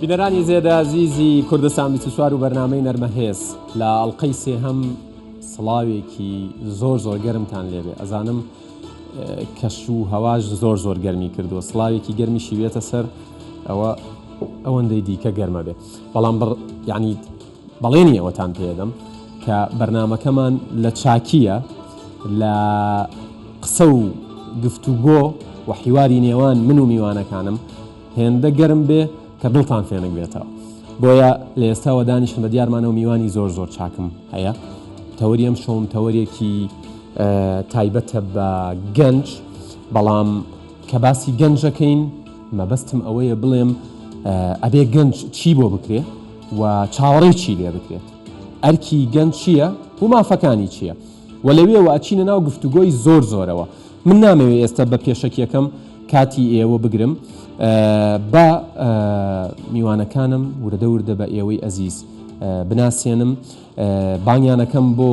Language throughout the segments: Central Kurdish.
بینەرانی زێدە زیزی کوردستان بیست و چوار و بەرنامەی نەرمە هێز لە ئەڵلقەی سێهەم سڵاوێکی زۆر زۆر گەرمتان لێبێ ئەزانم کەش و هەواش زۆر زۆر گەرمی کردووە سڵاوێکی گەرمی شیوێتە سەر ئەوە ئەوەندەی دیکە گەرمە بێت بەڵام بڕ یەعنی بەڵێنی ئەوەتان پێدەم کە بەرنامەکەمان لە چاکییە لە قسە و گفتوگۆ و حیواری نێوان من و میوانەکانم هێندە گەرم بێ کە دڵتان فێنک بێتەوە بۆیە لە ئێستاوە دانیشتن بە دیارمانە و میوانی زۆر زۆر چاکم هەیە تەوەری ئەم شۆم تەوەرێکی تایبەتە بە گەنج بەڵام کە باسی گەنجەکەین مەبەستم ئەوەیە بڵێم ئەبێ گەنج چی بۆ بکرێ و چاوەڕێی چی لێ بکرێت ئەرکی گەنج چییە و مافەکانی چییە و لەوێەوە ئەچینە ناو گفتوگۆی زۆر زۆرەوە من نامەوێت ئێستا بە پێشەکیەکەم کاتی ئێوە بگرم بە میوانەکانم وردە وردە بە ئێوەی ئەزیز بناسیێنم بانیانەکەم بۆ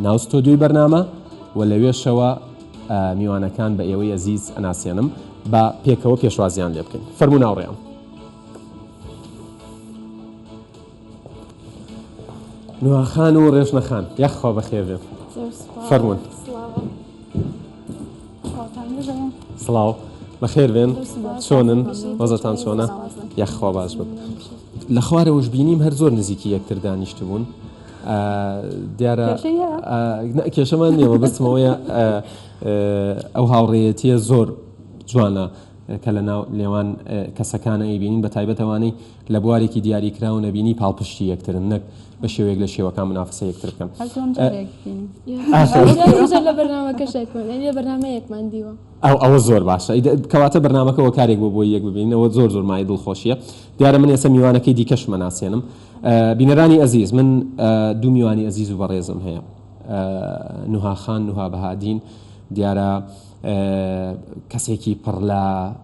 ناو ستۆدیۆی بەرنامە و لەوێشەوە میوانەکان بە ئێوەی ئەزیز ئەناسێنم با پێکەوە پێشوازیان لێ بکەین فەرموو ناوڕێیان نوواخان و ڕێژنەخان یاخوا بەخێ بێت فەرمونون سڵاو بەخێر بێن چۆنن وەزتان چۆنە یاخوا باش بن لە خوارەوەش بینیم هەر زۆر نزیکی یەکتر دانیشتبوون دیارە کێشەمان نیە مەبەستم ئەوەیە ئەو هاوڕێیەتیە زۆر جوانە کە لە ناو نێوان کەسەکانە ئەیبینین بە تایبەت ئەوانەی لە بوارێکی دیاری کراو نەبینی پاڵپشتی یەکترن نەک بە شێوەیەک لە شێوەکان منافسە یەکتر بکەن ئەو ئەوە زۆر باشە کەواتە بەرنمەکەەوە کارێک بۆ بۆی یەک ببینەوە زۆر زۆر مای دڵخۆشیە دیارە من ئێستا میوانەکەی دیکەش مەناسیێنم بینەرانی ئەزیز من دوو میوانی ئەزیز و بەڕێزم هەیە نوها خان نوها بەهادین دیارە کەسێکی پڕ لە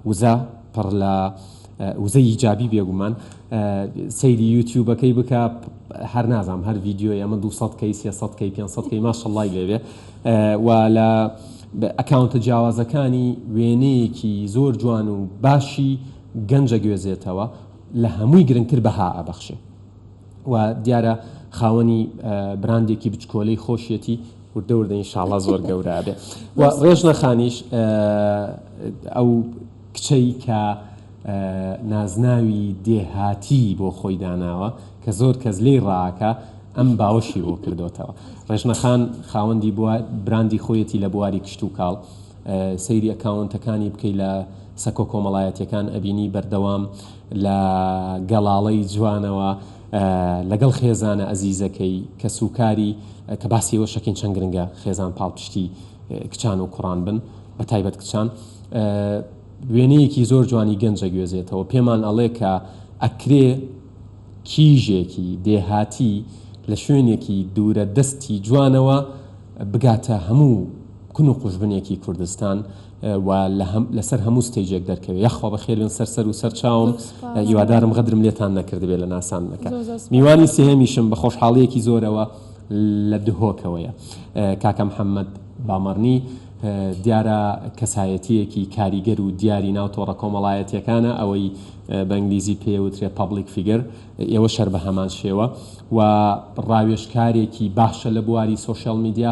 وزە پڕ لە وزە ئیجابی بێگومان سەیری یوتیوبەکەی بکە هەر نازام هەر ڤیددیۆی ئەمە 200 کەی 300 کەی 500 کەی ماشەڵی لێوێ و لە ئەکاونتە جیاوازەکانی وێنەیەکی زۆر جوان و باشی گەنجە گوێزێتەوە لە هەمووی گرنگتر بەها ئەبەخشێ و دیارە خاوەنی براندێکی بچکۆلەی خۆشیەتی وردە وردە ئینشاڵا زۆر گەورە ئەبێ و ڕێژنە خانیش ئەو کچەی کە نازناوی دێهاتی بۆ خۆی داناوە کە زۆر کەس لێی ڕاکا ئەم باوەشی بۆ کردۆتەوە ڕێژنە خان خاوەندی بوار براندی خۆیەتی لە بواری کشتوکاڵ سەیری ئەکاونتەکانی بکەی لە سەکۆ کۆمەڵایەتیەکان ئەبینی بەردەوام لە گەڵاڵەی جوانەوە لەگەڵ خێزانە ئەزیزەکەی کەس و کاری کە باسی ئەوە شەکەین چەند گرنگە خێزان پاڵپشتی کچان و کوڕان بن بە تایبەت کچان وێنەیەکی زۆر جوانی گەنجە گوێزێتەوە پێمان ئەڵێ کە ئەکرێ کیژێکی دێهاتی لە شوێنێکی دوورە دەستی جوانەوە بگاتە هەموو کون و قوژبنێکی کوردستان و لەسەر هەموو ستەیجێک دەرکەوێ یاخوا بەخێر بێن سەر سەر و سەر چاوم هیوادارم غەدرم لێتان نەکردبێ لە ناساندنەکە میوانی سێهەمیشم بە خۆشحاڵیەکی زۆرەوە لە دهۆکەوەیە کاکە محەممەد بامەڕنی دیارە کەسایەتیەکی کاریگەر و دیاری ناو تۆڕە کۆمەڵایەتیەکانە ئەوەی بە ئنگلیزی پێوترێ پبلیک فیگەر ئێوە شەر بە هەمان شێوە و ڕاوێشکارێکی باشە لە بواری سوۆشیال میدیا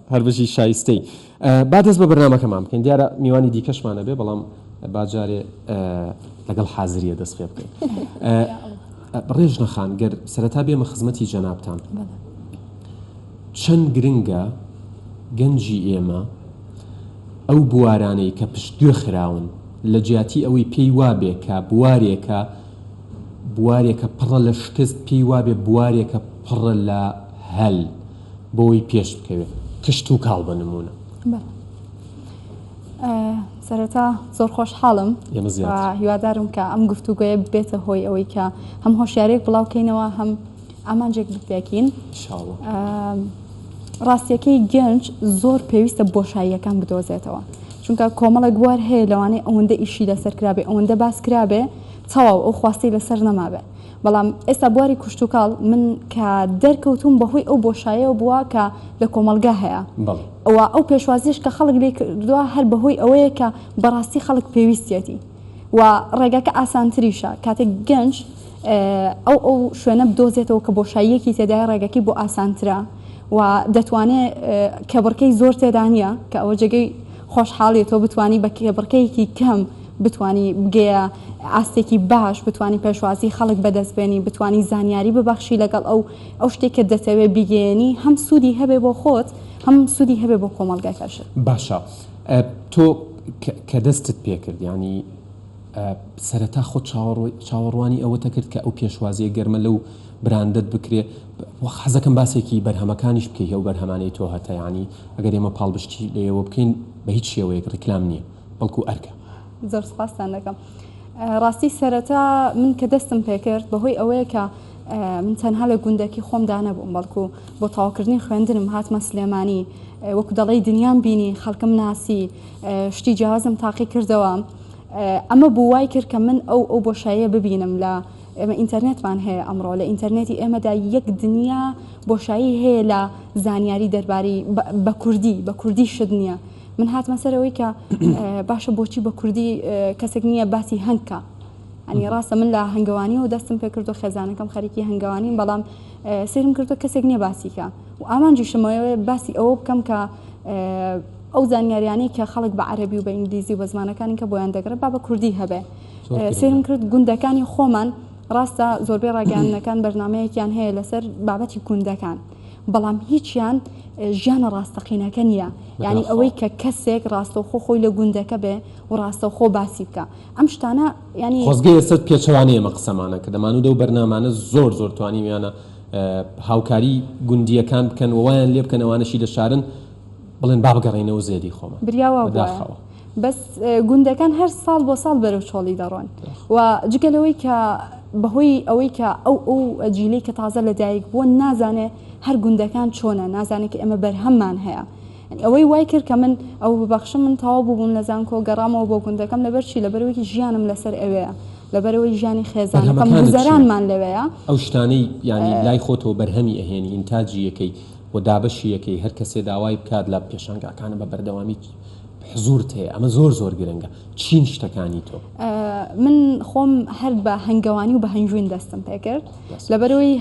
هەر بژی شایستەی. با دەست بە بەرنامەکەمان بکەین دیارە میوانی دیکەشمان ئەبێ بەڵام با جارێ لەگەڵ حازریە دەست پێ بکەین. ڕێژنە خان گەر سەرەتا بێمە خزمەتی جەنابتان چەند گرنگە گەنجی ئێمە ئەو بوارانەی کە پشت گوێ خراون لە جیاتی ئەوەی پێی وابێ کە بوارێکە بوارێکە پڕە لە شکست پێی وابێ بوارێکە پڕە لە هەل بۆی پێش بکەوێت کشت و کاڵ بە نموونە. سەرەتا زۆر خۆشحاڵم هیوادارم کە ئەم گفتوگوۆیە بێتە هۆی ئەوەی کە هەم هۆشیارێک بڵاوکەینەوە هەم ئامانجێک بپێکین ڕاستیەکەی گەنج زۆر پێویستە بۆشاییەکان بدۆزێتەوە چونکە کۆمەڵێک بوار هەیە لەوانەیە ئەوەندە ئیشی لەسەر کرابێ ئەوەندە باس کرابێ تەواو ئەو خواستی لەسەر نەمابێ بەڵام ئێستا بواری کوشتوکاڵ من کە دەرکەوتووم بەهۆی ئەو بۆشایەوە بووە کە لە کۆمەڵگا هەیە و ئەو پێشوازیش کە خەڵک لێی کردووە هەر بەهۆی ئەوەیە کە بەڕاستی خەڵک پێویستیەتی و ڕێگاکە ئاسانتریشە کاتێک گەنج ئەو ئەو شوێنە بدۆزێتەوە کە بۆشاییەکی تێدای ڕێگەکەی بۆ ئاسانترە و دەتوانێت کێبڕکێی زۆر تێدا نییە کە ئەوە جێگەی خۆشحاڵییە تۆ بتوانی بە کێبڕکێیەکی کەم بتوانی بگەیە ئاستێکی باش، بتوانی پێشوازی خەڵک بەدەست بێنی، بتوانی زانیاری ببەخشی لەگەڵ ئەو ئەو شتێک کە دەتەوێ بیگەیەنی هەم سوودی هەبێ بۆ خۆت هەم سوودی هەبێ بۆ کۆمەڵگەکەشت. باشە تۆ کە دەستت پێکرد یانی سەرەتا خۆت چاوەڕوی چاوەڕوانی ئەوەتە کرد کە ئەو پێشوازیە گەرمە لەو براندەت بکرێ حەزەکەم باسێکی بەرهەمەکانیش بکەی ئەو بەرهەمانەی تۆ هەتە یانی ئەگەر ئێمە پاڵبشتی لێوە بکەین بە هیچ شێوەیەک ڕیکلام نییە. بەڵکو ئەرکە. زۆر سپاستان دەکەم. ڕاستی سەرەتا من کە دەستم پێکرد بەهۆی ئەوەیە کە من تەنها لە گوندەکی خۆمدا نەبووم بەڵکو بۆ تاوکردنی خوێندنم هاتمە سلێمانی وەکو دەڵی دنیام بینی خەڵکم ناسی شتی جیازم تاقی کردەوە ئەمە بوو وای کرد کە من ئەو ئەو بۆشاییە ببینم لە ئێمە ئینتەرنێتمان هەیە ئەمڕۆ لە ئینتەرنێتی ئێمەدا یەک دنیا بۆشایی هەیە لە زانیاری دەرباری بە کوردی بە کوردی شت نییە من هاتمە سەر ئەوەی کە باشە بۆچی بە کوردی کەسێک نییە باسی هەنگ کا ئەنی ڕاستە من لە هەنگەوانی و دەستم پێ کردو خێزانەکەم خەریکی هەنگەوانین بەڵام سرم کردو کەسێک نییە باسیکە و ئامانجیشمەوەێ باسی ئەوە بکەم کە ئەو زانیاریانەی کە خەڵک بە عەربی و بە ئینگلیزی بە زمانەکانی کە بۆیان دەگرە با بە کوردی هەبێ سرم کرد گوندەکانی خۆمان ڕاستە زۆربەی ڕاگەاندنەکان بەرنمەیەکیان هەیە لەسەر بابەتی گوندەکان بەڵام هیچیان ژیانە ڕاستەقینەکە نییە یعنی ئەوەی کە کەسێک ڕاستەوخۆ خۆی لە گوندەکە بێ و ڕاستەوخۆ باسی بکە ئەم شتانە ینی خۆزگە ئێستا پێچەوانەیە مە قسەمانە کە دەمانوو دەو بەرنامانە زۆر زۆر توانیویانە هاوکاری گوندیەکان بکەن ووایان لێ بکەنەوانەشی لە شارن بڵێن بابگەڕێنەوە زێدی خۆمان بریاوە داخەوە. بەس گوندەکان هەر ساڵ بۆ ساڵ بەرەو چۆڵی دەڕۆن و جگە لەوەی کە بەهۆی ئەوەی کە ئەو ئەو جیلەی کە تازە لە دایک بووە نازانێ هەر گوندەکان چۆنە نازانێت کە ئێمە بەرهەممان هەیە ئەوەی وای کرد کە من ئەو ببەخشم من تەواو بووبووم لە زانکۆ گەڕامەوە بۆ گوندەکەم لەبەر چی لەبەرەوەیکی ژیانم لەسەر ئەوەیە لەبەرەوەی ژیانی خێزانەکەم بەرهەمەکانت چییە؟ گوزەرانمان لەوەیە ئەو شتانەی یانی لای خۆتەوە بەرهەمی ئەهێنی ئینتاجی یەکەی و دابەشی یەکەی هەر کەسێ داوای بکات لە پێشانگاکانە بە بەردەوامی حزورت هەیە ئەمە زۆر زۆر گرنگە چین شتەکانی تۆ. من خۆم هەر بە هەنگەوانی و بە هەنجوین دەستم پێکرد لەبەرەوەی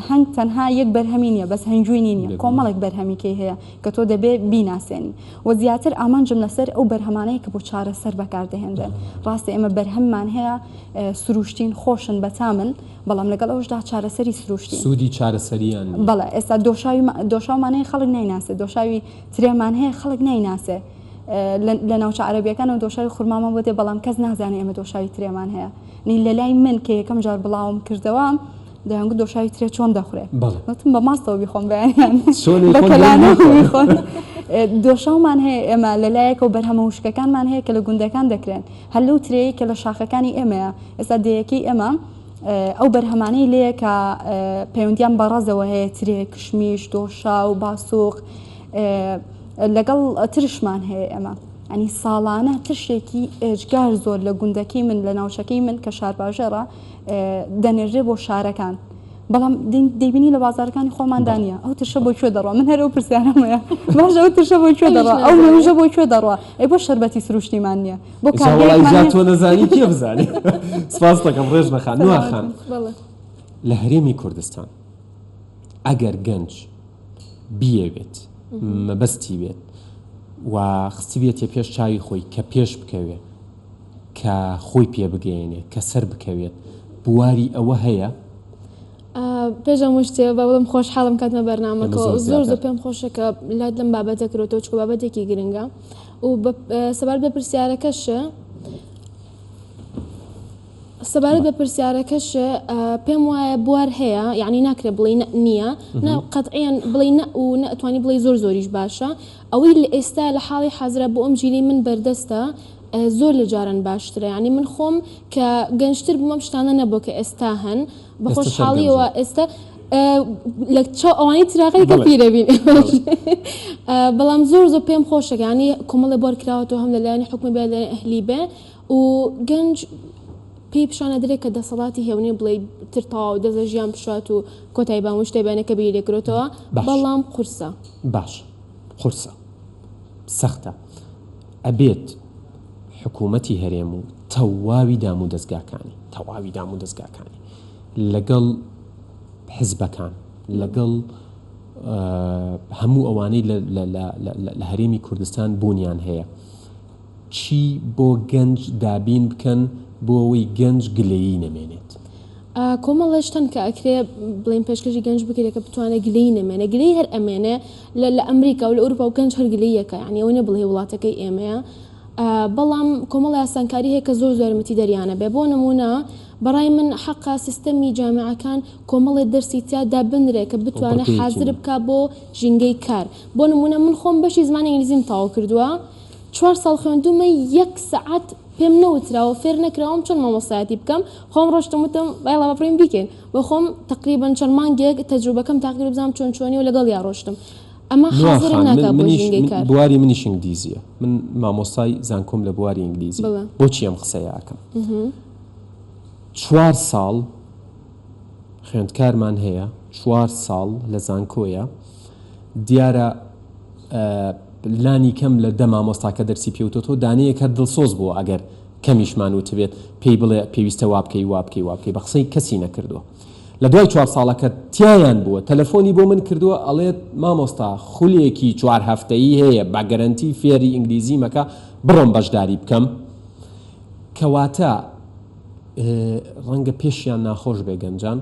هەنگ تەنها یەک بەرهەمی نیە بەس هەنجوینی نیە کۆمەڵێک بەرهەمیکەی هەیە کە تۆ دەبێ بیناسێنی و زیاتر ئامانجم لەسەر ئەو بەرهەمانەیە کە بۆ چارە سەر بەکاردەهێنرێن ڕاستە ئێمە بەرهەممان هەیە سروشتین خۆشن بەتامن بەڵام لەگەڵ ئەوشدا چارەسەری سروشتی سوودی چارەسەریان بەڵە ئێستا دۆشاوی دۆشاومانەیە خەڵک نایناسێت دۆشاوی ترێمان هەیە خەڵک نایناسێ لە ناوچە عەرەبیەکانەوە دۆشاوی خورمامان بۆ دێ بەڵام کەس نازانێ ئێمە دۆشاوی ترێمان هەیە نی لە لای من کە یەکەم جار بڵاوم کردەوە دەیانگو دۆشاوی ترێ چۆن دەخورێ وتم بە ماستەوە بیخۆم بەیان بەکەلانەخۆن دۆشاومان هەیە ئێمە لە لایەکەوە بەرهەمە وشکەکانمان هەیە کە لە گوندەکان دەکرێن هەلو ترەیە کە لە شاخەکانی ئێمەیە ئێستا دەیەکەی ئێمە ئەو بەرهەمانەی لێیە کە پەیوەندیان بە ڕەزەوە هەیە ترێ، کشمیش، دۆشاو، باسووق لەگەڵ ترشمان هەیە ئێمە. ئەنی ساڵانە ترشێکی ئێجگار زۆر لە گوندەکەی من لە ناوچەکەی من کە شارباژێڕە دەنێرێ بۆ شارەکان بەڵام دەبینی لە بازارەکانی خۆماندا نیە ئەو ترشە بۆ کوێ دەڕوە من هەر ئەو پرسیارەمەیە باش ئەو ترشە بۆ کوێ دەڕوە ئەو مەوژە بۆ کوێ دەڕوە ئەی بۆ شربەتی سروشتیمان نیە بۆ جا کارگەیەکمان وەڵای جا هەیە. تۆ نەزانی کێ بزانێ سپاستەکەم ڕێزنە خان نوا خان سەلامەتبن بەڵێ. لە هەرێمی کوردستان ئەگەر گەنج بیەوێت مەبەستی بێت و خستبیەتیە پێش چاوی خۆی کە پێش بکەوێ کە خۆی پێ بگەیەنێ کە سەر بکەوێت بواری ئەوە هەیە؟ ئا پێش هەموو شتێ با بڵێم خۆشحاڵم کاتمە ئێمە بەرنامەکەوە زۆر زۆر زۆر زیاتر پێم خۆشە کە لات لەم بابەتە کرۆتەوە چونکە بابەتێکی گرنگە و سەبارەت بە پرسیارەکەش سەبارەت بە پرسیارەکەش پێم وایە بوار هەیە یعنی ناکرێت بڵێ نییە نە قەتعیان بڵێ نە و نەتوانی بڵێ زۆر زۆریش باشە ئەوەی لە ئێستا لە حاڵی حەزرە بۆ ئەم جیلی من بەردەستە زۆر لە جاران باشترە ینی من خۆم کە گەنجتر بوومەم شتانە نەبوو کە ئێستا هەن بە خۆشحاڵیەوە ئێستا لە چاو ئەوانی تراغی کە پیرەبین بەڵام زۆر زۆر پێم خۆشەکانی کۆمەڵە بۆر کراوەەوە هەم لەلایەنی حکومی بێ لە ئەهلی بێ و گەنج پێی پیشانە درێت کە دەسەڵاتی هێونی بڵێ تر تەواو دەزە ژیان پشات و کۆتای بان وشتێ بێنەکە بیر لێکرێتەوە بەڵام قورسە باش قورسە سەختە ئەبێت حکوومەتی هەرێم و تەواوی دامودەزگاکانی، تەواوی دامودەزگاکانی لەگەڵ حزبەکان، لەگەڵ هەموو ئەوانەی لە هەرێمی کوردستان بوونیان هەیە، چی بۆ گەنج دابین بکەن بۆ ئەوەی گەنج گلەیی نەمێنێت. کۆمەڵێ شتن کە ئەکرێ بڵێن پێشکەشی گەنج بکرێ کە بتوانێ گلەیی نەمێنێ گلەیی هەر ئەمێنێ لە ئەمریکا و لە ئەوروپا و گەنج هەر گلەییەکە یانی ئەوە نیە بڵێی وڵاتەکەی ئێمەیە بەڵام کۆمەڵی ئاسانکاری هەیە کە زۆر زۆر یارمەتی دەریانە بێ بۆ نمونە بەڕای من حەقا سیستەمی جامعەکان کۆمەڵێ دەرسی تیا دابنرێ کە بتوانێ حازر بکا بۆ ژینگەی کار بۆ نمونە من خۆم بەشی زمانی ئینگلیزیم تەواو کردووە چوار ساڵ خوێندوومە یەک سەعات پێم نەوتراوە فێر نەکراوم چۆن مامۆستایەتی بکەم خۆم ڕۆشتم وتم بایڵا با بڕۆین بیکەین و خۆم تقریبا چەند مانگێک تەجروبەکەم تاقیکرد بزانم چۆن چۆنی و لەگەڵیا ڕۆشتم ئەمە حازرم ناکا بۆ ژینگەی کار. بواری منیش ئینگلیزیە من مامۆستای زانکۆم لە بواری ئینگلیزی بۆچی ئەم قسەیە ئەکەم چوار ساڵ خوێندکارمان هەیە چوار ساڵ لە زانکۆیە دیارە لانی کەم لە دە مامۆستاکە دەرسی پێوتۆتۆ دانەیەک هەر دڵسۆز بووە ئەگەر کەمیشمان وتبێت پێی بڵێ پێویستە وابکەی وابکەی وابکەی بە قسەی کەسی نەکردووە لە دوای چوار ساڵەکە تیایان بووە تەلەفۆنی بۆ من کردووە ئەڵێت مامۆستا خولێکی چوار هەفتەیی هەیە بە گەرەنتی فێری ئینگلیزی مەکە بڕۆم بەشداری بکەم کەواتە ڕەنگە پێشیان ناخۆش بێ گەنجان،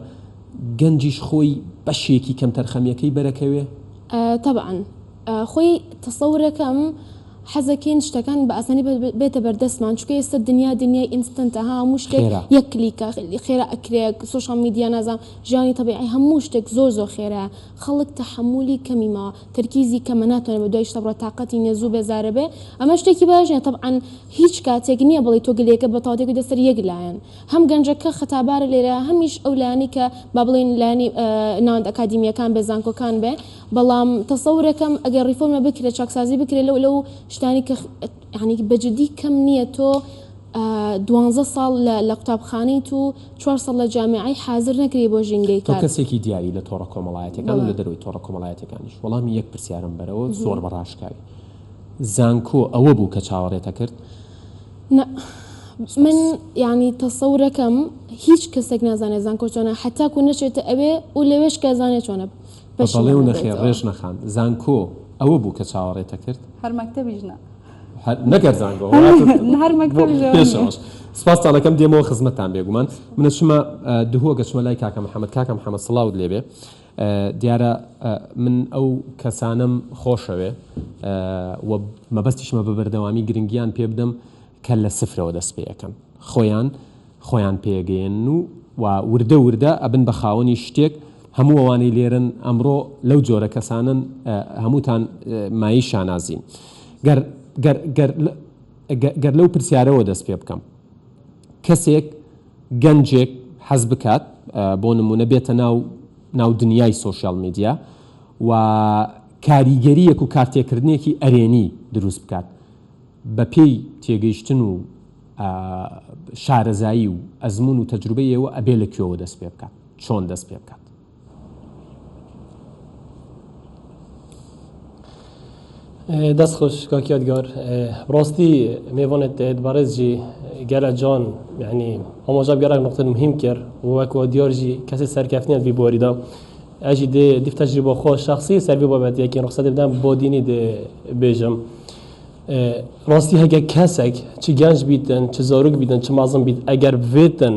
گەنجیش خۆی بەشێکی کەمتەرخەمیەکەی بەرەکەوێ؟ تەبعەن خۆی تەسەورەکەم حەزەکەین شتەکان بە ئاسانی بێتە بەردەستمان چونکە ئێستا دنیا دنیای ئینستەنتە ها هەموو شتێک خێرا. یەک کلیکە خێرا ئەکرێ سۆشیال میدیا نازام ژیانی تەبیعی هەموو شتێک زۆر زۆر خێرایە خەڵک تەحەمولی کەمی ماوە تەرکیزی کەمە ناتوانێ بەدوای شتە بڕوات تاقەتی نیە زوو بێزارەبێ ئەمە شتێکی باش نیە تەبعەن هیچ کاتێک نیە بڵێی تۆ گلەیەکە بەتاڵ دەکەیتە سەر یەک لایەن هەم گەنجەکە خەتابارە لێرە هەمیش ئەو لایەنەی کە با بڵێین لایەنی ناوەند ئەکادیمیەکان بێ زانکۆکان بێ بەڵام تەسەورەکەم ئەگەر ڕیفۆرمە بکرێ چاکسازی بکرێ لەو لەو شتانی کە یانی بە جدی کەم نیە تۆ دوانزە ساڵ لە قوتابخانەیت و چوار ساڵ لە جامعەی حازر نەکری بۆ ژینگەی کار. تۆ کەسێکی دیاری لە تۆڕە کۆمەڵایەتیەکان و لە دەرەوەی تۆڕە کۆمەڵایەتیەکانیش وەڵامی یەک پرسیارم بەرەوە زۆر بە ڕاشکاوی. زانکۆ ئەوە بوو کە چاوەڕێت ئەکرد؟ نا من یانی تەسەورەکەم هیچ کەسێک نازانێ زانکۆ چۆنە هەتاکو نەچێتە ئەوێ و لەوێش کە زانێ چۆنە بە بەڵێ و نەخێر پەشیمانەبێتەوە. ڕێژنە خان زانکۆ ئەوە بوو کە چاوەڕێت ئەکرد؟ هەر مەکتەبیش نا. هەر نەگەر زانکۆ هەر مەکتەبیش ئەوە نیە. پێشەوەش سوپاستان ئەکەم دێمەوە خزمەتتان بێگومان من ئەچمە دهۆک ئەچمە لای کاکە محمد کاکە محمد سڵاوت لێبێ دیارە من ئەو کەسانەم خۆشەوێ و مەبەستیشمە بە بەردەوامی گرنگیان پێ بدەم کە لە سفرەوە دەست پێ ئەکەن خۆیان خۆیان پێ ئەگەیەنن و و وردە وردە ئەبن بە خاوەنی شتێک، هەموو ئەوانەی لێرەن ئەمڕۆ لەو جۆرە کەسانەن هەمووتان مایەی شانازین. گەر گەر گەر گەر لەو پرسیارەوە دەست پێ بکەم کەسێک، گەنجێک حەز بکات بۆ نموونە بێتە ناو ناو دنیای سۆشیال میدیا و کاریگەریەک و کارتێکردنێکی ئەرێنی دروست بکات بە پێی تێگەیشتن و شارەزایی و ئەزموون و تەجروبەی ئێوە ئەبێ لە کوێوە دەست پێ بکات چۆن دەست پێ بکات؟ دەست خۆش کاکی یادگار ڕاستی مێوانێت دەێت بەڕێزجی گەلە جان یعنی ئەمەژە گەرەک نقطە مهم کرد وەکو دیارژی کەسی سەرکەفتنیان بی بۆریدا ئەژی دێ دیف تەجری بۆ خۆش شخصی سەربی بابەت یەکی ڕخسەتی بدەم بۆ دینی دێ بێژم ڕاستی هەگە کەسێک چ گەنج بیتن چ زۆرگ بیتن چ مازم بیت ئەگەر بێتن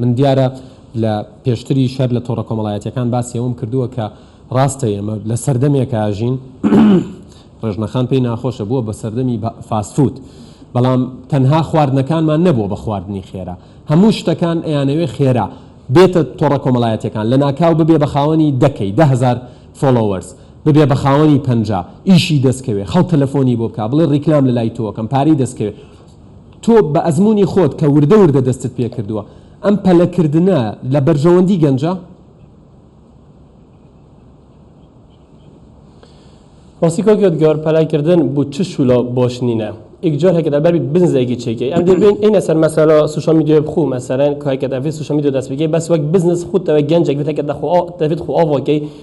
من دیارە لە پێشتریش هەر لە تۆڕە کۆمەڵایەتیەکان باسی ئەوەم کردووە کە ڕاستە ئێمە لە سەردەمێک ئاژین ڕێژنەخان پێی ناخۆشە بووە بە سەردەمی فاسفوت بەڵام تەنها خواردنەکانمان نەبووە بە خواردنی خێرا هەموو شتەکان ئەیانەوێ خێرا بێتە تۆڕە کۆمەڵایەتەکان لە ناکاو ببێ بە خاوەنی دەکەی دههزار فۆلۆوەرز ببێ بە خاوەنی پەنجا ئیشی دەستکەوێ خەڵک تەلەفۆنی بۆ بکە بڵێ ڕیکلام لە لای تۆکەم پارەی دەستکەوێ تۆ بە ئەزموونی خۆت کە وردە وردە دەستت پێکردووە، ئەم پەلەکردنە لە بەرژەوەندی گەنجە؟ ڕاستی کاک یادگار پەلای کردن بو چ شولا باش نینە ایک جار هەکەت ئەبەر بزنزێکی چێکی ئەم دێ بین اینە سەر مەسەلا سوشال میدیا بخو مەسەرەن کاکەت ئەڤێ سوشال میدیا دەست بگێ بەس وەک بزنس خود تەوە گەنجێک بێت هەکەت دەخۆ دەبێت خۆ ئاواکەی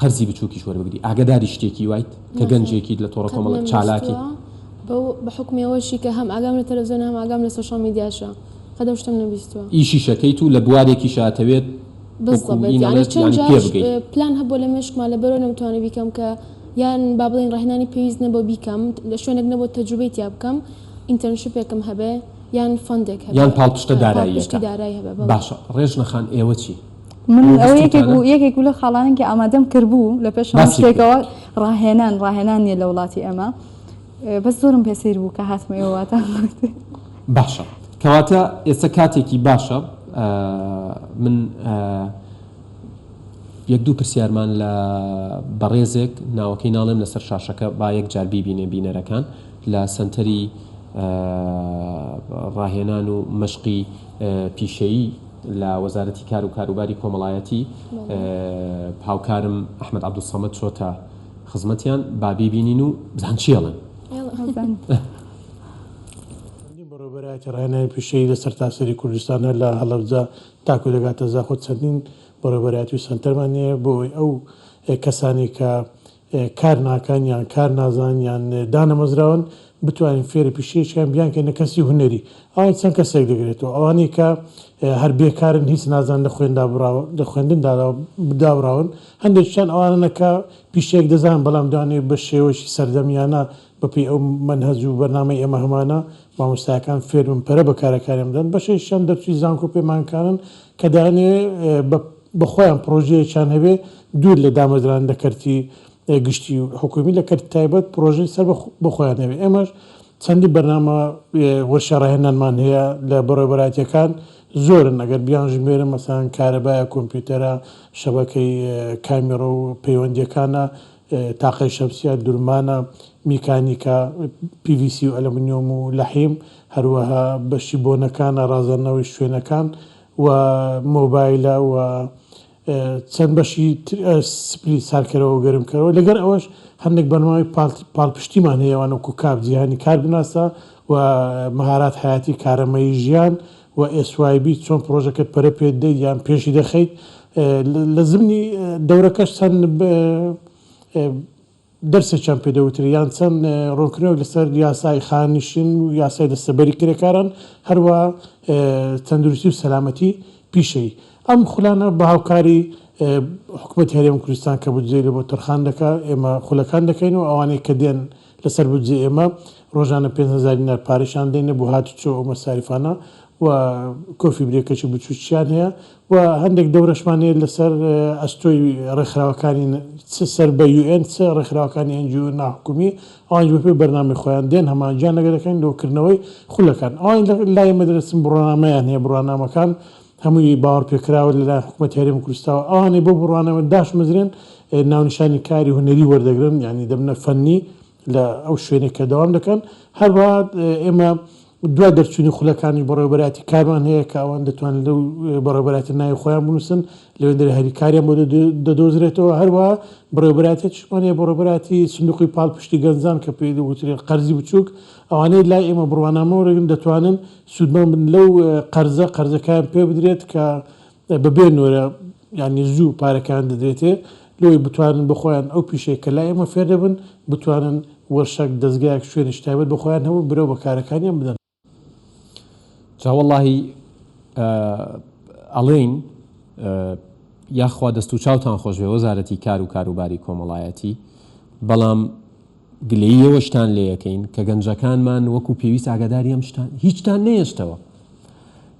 قەرزی بچوکیش وەربگری ئاگەداری شتێکی وایت کە گەنجێکیت لە تۆڕە کۆمەڵ چالاکی. بە حوکمی ئەوەشی کە هەم ئاگام لە تەلەفزیۆنە هەم ئاگام لە سۆشیاڵ میدیاشە قەد ئەو شتەم نەبیستووە. ئیشیشەکەیت و لە بوارێکیشە ئەتەوێت وەکو ئی نەڵێت یانی پێ بگەی. پلان هەبووە لە مێشکما لەبەرئەوە نەمتوانی بیکەم کە یان با بڵێین ڕاهێنانی پێویست نەبوو بیکەم لە شوێنێک نەبوو تەجروبەی تیا بکەم ئینتەرنشپێکم هەبێ یان فەندێک هەبێ یان پاڵپشتە داراییەکە باشە ڕێژنە خان ئێوە چی؟ من ئەو یەکێک بەستوتانە؟ بوو یەکێک بوو لە خاڵانن کە ئامادەم کردبوو لە پێش هەموو باسی بکە. شتێکەوە ڕاهێنان ڕاهێنان نییە لە وڵاتی ئێمە ئێ، بەس زۆرم پێ سەیر بوو کە هاتمە ئێوە واتان گوت باشە کەواتە ئێستا کاتێکی باشە ئە من ئە یەک دوو پرسیارمان لە بەڕێزێک ناوەکەی ناڵێم لەسەر شاشەکە با یەک جار بیبینێ بینەرەکان لە سەنتەری ئە ڕاهێنان و مەشقی ئە پیشەیی لە وەزارەتی کار و کاروباری کۆمەڵایەتی هاوکارم ئەحمەد عەبدولسەمەد چۆتە خزمەتیان با بیبینین و بزان چی ئەڵێن. چەندین بەڕێوەبەرایەتی ڕاهێنانی پیشەیی لە سەرتاسەری کوردستان هەر لە هەڵەبجە تاکو دەگاتە زاخۆ چەندین بەڕێوەبەرایەتی و سەنتەرمان هەیە بۆ ئەوەی ئەو کەسانەی کە کار ناکەن یان کار نازان یان دانەمەزراون بتوانین فێری پیشەیەکیان بیانکەین نە کەسی هونەری ئەوان چەند کەسێک دەگرێتەوە ئەوانەی کە هەر بێکارن هیچ نازان لە خوێندا بڕاو لە خوێندن داراو داوراون هەندێکیان ئەوانە کە پیشەیەک دەزان بەڵام دەیانەوێت بە شێوەیەکی سەردەمیانە بەپێی ئەو مەنهەج و بەرنامەی ئێمە هەمانە مامۆستایەکان فێربن پەرە بە کارەکانیان بدەن بەشێکیشیان دەرچووی زانکۆ پەیمانکارن کە دەیانەوێت بە بە خۆیان پڕۆژەیەکیان هەبێ دوور لە دامەزران لە کەرتی گشتی و حکوومی لە کەرتی تایبەت پڕۆژەی سەر بە خۆیان هەبێ ئێمەش چەندین بەرنامە وەرشە ڕاهێنانمان هەیە لە بەڕێوەبەرایەتیەکان زۆرن ئەگەر بیانژمێرم مەسەن کارەبایە کۆمپیوتەرە شەبەکەی کامیڕە و پەیوەندیەکانە تاقی شەمسیە دورمانە میکانیکا PVC و ئەلەمنیۆم و لەحیم هەروەها بەشی بۆنەکانە ڕازاندنەوەی شوێنەکان و مۆبایلە و چەند بەشی تر سپلی ساردکەرەوە و گەرمکەرەوە، لەگەر ئەوەش هەندێک بەرنامەی پاڵپشتیمان هەیە وانەک و کاپ جیهانی کار بناسە و مەهارات حەیاتی کارەمەیی ژیان و SYB چۆن پڕۆژەکەت پەرە پێ دەیت یان پێشی دەخەیت لە زمنی دەورەکەش چەند دەرسێکیان پێ دەوترێت یان چەند ڕوونکردنەوەک لەسەر یاسای خاننشین و یاسای دەستەبەری کرێکاران، هەروەها تەندروستی و سەلامەتی پیشەیی. ئەم خولانە بە هاوکاری حکومەتی هەرێم و کوردستان کە بودجەی لەبۆ تەرخان دەکا، ئێمە خولەکان دەکەین و ئەوانەی کە دێن لەسەر بودجەی ئێمە ڕۆژانە پێنج هەزار دینار پارەشان دەینێ بۆ هاتوچۆ و مەساریفانە و کۆفی برێکەچی بچووکیشیان هەیە و هەندێک دەورەشمان هەیە لەسەر ئەستۆی ڕێکخراوەکانی چ سەر بە یو ئێن چ ڕێکخراوەکانی ئێن جی ئۆ ناحکومی ئەوانیش بەپێی بەرنامەی خۆیان دێن هەمانجیان لەگە دەکەین لۆ کردنەوەی خولەکان ئەوان لای ئێمە دەرەچن بڕوانامەیان هەیە بڕوانامەکان هەمووی باوەڕپێکراوە لەلایەن حکومەتی هەرێمی کوردستاوە ئەوانەی بۆ بڕوانامە داشمەزرێن ناونیشانی کاری هونەری وەردەگرن یانی دەبنە فەنی لە ئەو شوێنەی کە دەوام دەکەن، هەروەها ئێمە دوای دەرچوونی خولەکانی بەڕێوەبەرایەتی کارمان هەیە کە ئەوان دەتوانن لەو بەڕێوەبەرایەتیە ناوی خۆیان بنووسن، لەوێندەری هەریکاریان بۆ دەدۆزرێتەوە، هەروەها بەڕێوەبەرایەتیەکیشمان هەیە بەڕێوەبەرایەتی سندوقی پاڵپشتی گەنجان کە پێی دەگوترێت قەرزی بچووک، ئەوانەی لای ئێمە بڕوانامە وەرەگرن دەتوانن سوودمەند بن لەو قەرزە، قەرزەکەیان پێبدرێت کە بەبێ نۆرە یانی زوو پارەکان دەدرێتێ لۆی بتوانن بۆ خۆیان ئەو پیشەی کە لای ئێمە فێر دەبن بتوانن وەرشەک، دەزگایەک، شوێنێکی تایبەت بۆ خۆیان هەبوو برەو بە کارەکانیان بدەن. جا وەڵاهی ئەڵێین یاخوا دەست و چاوتان خۆشبێ وەزارەتی کار و کاروباری کۆمەڵایەتی بەڵام، گلەیی ئەوەشتان لێەکەین کە گەنجەکانمان وەکو پێویست ئاگاداری ئەم شتان هیچتان نەهێشتەوە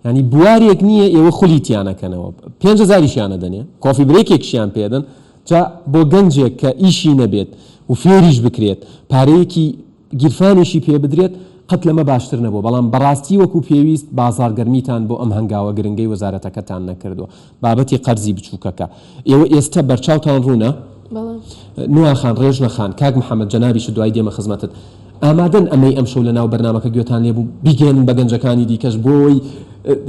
یانی بوارێک نییە ئێوە خولی تیانەکەنەوە پێنج هەزاریشیانە دەنێ کۆفی برێکێکشیان پێدەن جا بۆ گەنجێک کە ئیشی نەبێت و فێریش بکرێت پارەیەکی گیرفانیشی پێ بدرێت قەت لەمە باشتر نەبوو بەڵام بەڕاستی وەکو پێویست بازاڕگەرمیتان بۆ ئەم هەنگاوە گرنگەی وەزارەتەکەتان نەکردووە بابەتی قەرزی بچووکەکە ئێوە ئێستە بەرچاوتان ڕوونە؟ بەڵێ. نوا خان، ڕێژنە خان، کاک محەمەد جەنابیشت دوای دێمە خزمەتت، ئامادەن ئەمەی ئەمشەو لەناو بەرنامەکە گوێتان لێ بوو بیگەیەنن بە گەنجەکانی دیکەش بۆی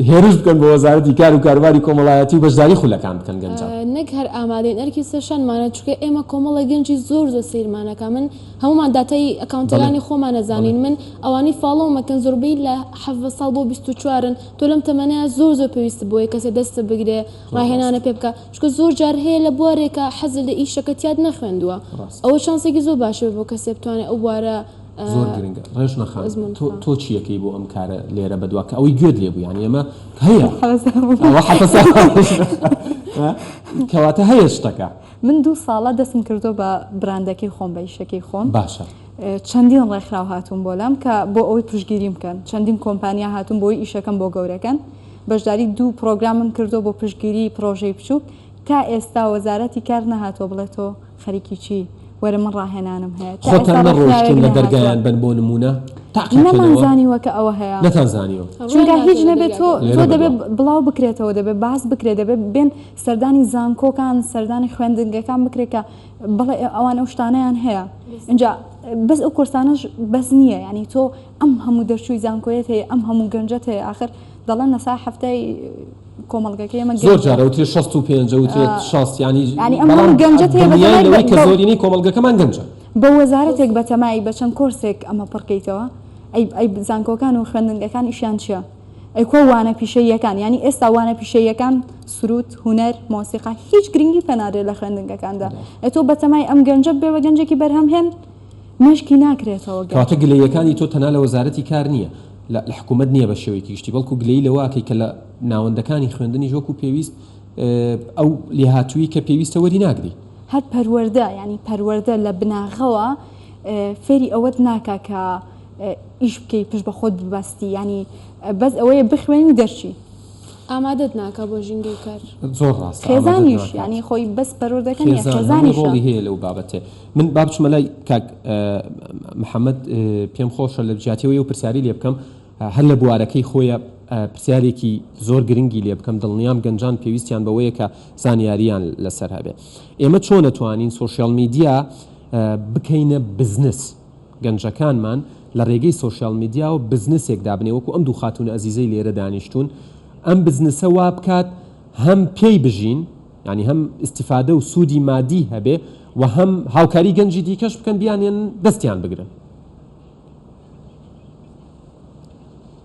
هێرش بکەن بۆ وەزارەتی کار و کاروباری کۆمەڵایەتی و بەشداری خولەکان بکەن گەنجان؟ نەک هەر ئامادەین ئەرکی سەرشانمانە چونکە ئێمە کۆمەڵە گەنجی زۆر زۆر سەیرمان ئەکا من هەموومان داتای ئەکاونتەلانی خۆمان ئەزانین من ئەوانەی فاڵۆوم ئەکەن زۆربەی لە حەڤدە ساڵ بۆ بیست و چوارن تۆ لەم تەمەنە زۆر زۆر پێویستت بۆیە کەسێ دەستت بگرێ ڕاهێنانە پێ بکە چکە زۆر جار هەیە لە بوارێکە حەزل لە ئیشەکە تیاد نەخوێندووە ئەوە چانسێکی زۆر باشە بۆ کەسێ بتوانێت ئەو بوارە زۆر گرنگە ڕێژ نەخان تۆ چیەکەی بۆ ئەم کارە لێرە بەدوا کە ئەوەی گوێت لێ بوویان ئێمە هەیە کەواتە هەیە شتەکە من دوو ساڵە دەستم کردو بە براندەکەی خۆم بە یشەکەی خۆم باشە چەندین ڕێکخراو هاتوون بۆ لام کە بۆ ئەوەی پشتگیریم بکەن، چەندین کۆمپانیا هاتوون بۆی ئیشەکەم بۆ گەورەکەن، بەشداری دوو پرۆگرامم کردووە بۆ پشتگیری پرۆژەی بچووک، تا ئێستا وەزارەتی کار نەهاتووە بڵێ تۆ خەریکی چی وەرە من ڕاهێنانم هەیە، تا ئێستا ڕێکخراوێک نەهاتووە، نەمان زانیوە کە ئەوە هەیە، چونکە هیچ نەبێت تۆ تۆ دەبێت بڵاو بکرێتەوە، دەبێت باس بکرێت، دەبێت بێن سەردانی زانکۆکان، سەردانی خوێندنگەکان بکرێت کە بەڵێ ئەوان ئەو شتانەیان هەیە ئینجا بەس ئەو کۆرسانەش بەس نییە یعنی تۆ ئەم هەموو دەرچووی زانکۆیەت هەیە ئەم هەموو گەنجەت هەیە آخر دەڵێن لە سا هەفتای کۆمەڵگەکە ئێمە زۆر جارە وترێ 65 وترێت شاست ینی بەڵام گەنجەت هەیە کە زۆرینەی کۆمەڵگەکەمان گەنجە بە وەزارەتێک بەتەمای بە چەند کۆرسێک ئەمە پڕکەیتەوە ئەی زانکۆکان و خوێندنگەکان ئیشیان چیە؟ ئەی کوا وانە پیشەییەکان؟ یانی ئێستا وانە پیشەییەکان، سروود، هونەر، مۆسیقا، هیچ گرنگی پێنادرێت لە خوێندنگەکاندا؟ ئەی تۆ بەتەمای ئەم گەنجە ببێ بە گەنجێکی بەرهەمهێن، مێشکی ناکرێتەوە گەر. کەواتە گلەییەکانی تۆ تەنها لە وەزارەتی کار نییە، لە حکوومەت نییە بە شێوەیەکی گشتی، بەڵکوو گلەیی لەوە ئەکەی کە لە ناوەندەکانی خوێندنیش وەکوو پێویست ئەو لێهاتوویی کە پێویستە وەری ناگری. هەر پەروەردە، یانی پەروەردە لە بناغەوە فێری ئەوەت ناکا کە، ئیش بکەی پشت بە خۆت ببەستی یانی بەس ئەوەیە بخوێنی دەرچی. ئامادەت ناکا بۆ ژینگەی کار. زۆر ڕاستە ئامادەت ناکات. خێزانیش یانی خۆی بەس پەروەردەکە نیە خێزان هەمووی خێزانیشە. ڕۆڵی هەیە لەو بابەتێ. من با بچمە لای کاک محمد پێم خۆشە لە جیاتی ئەوەی ئەو پرسیاری لێ بکەم هەر لە بوارەکەی خۆیە پرسیارێکی زۆر گرنگی لێ بکەم دڵنیام گەنجان پێویستیان بەوەیە کە زانیاریان لەسەر هەبێ ئێمە چۆن ئەتوانین سۆشیال میدیا بکەینە بزنس؟ گەنجەکانمان لە رێگەی سۆشیال میدیاوە بزنسێک دابنێ وەکو ئەم دوو خاتوون ئەزیزەی لێرە دانیشتوون ئەم بزنسە وابکات هەم پێی بژین یانی هەم ئیستیفادە و سوودی مادی هەبێ و هەم هاوکاری گەنجی دیکەش بکەن بیانێن دەستیان بگرن.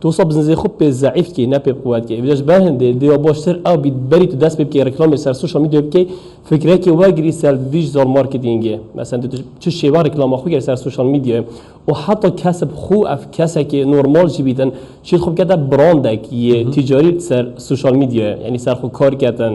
تو سە بزنزی خوب پێ زەعیف کەی نە پێ قوەت کەی ڤیدیۆش بە هندێ دێوە بۆ شتر ئاو بیت بەریت و دەس پێ بکەی ڕیکلامی سەر سوشەڵ میدیۆ بکەی فکرەکی وەرگری سەر ڤیژزۆڵ مارکتینگێ مەسەن تو چ شێوە ڕیکلامە خو گەر سەر سوشەڵ میدیۆ و حەتە کەسب خو ئەف کەسەکی نۆرماڵ جی بیتن چیت خوب کەتە بڕاندەک یێ تیجاری سەر سوشەڵ میدیۆ یانی سەر خو کار کەتن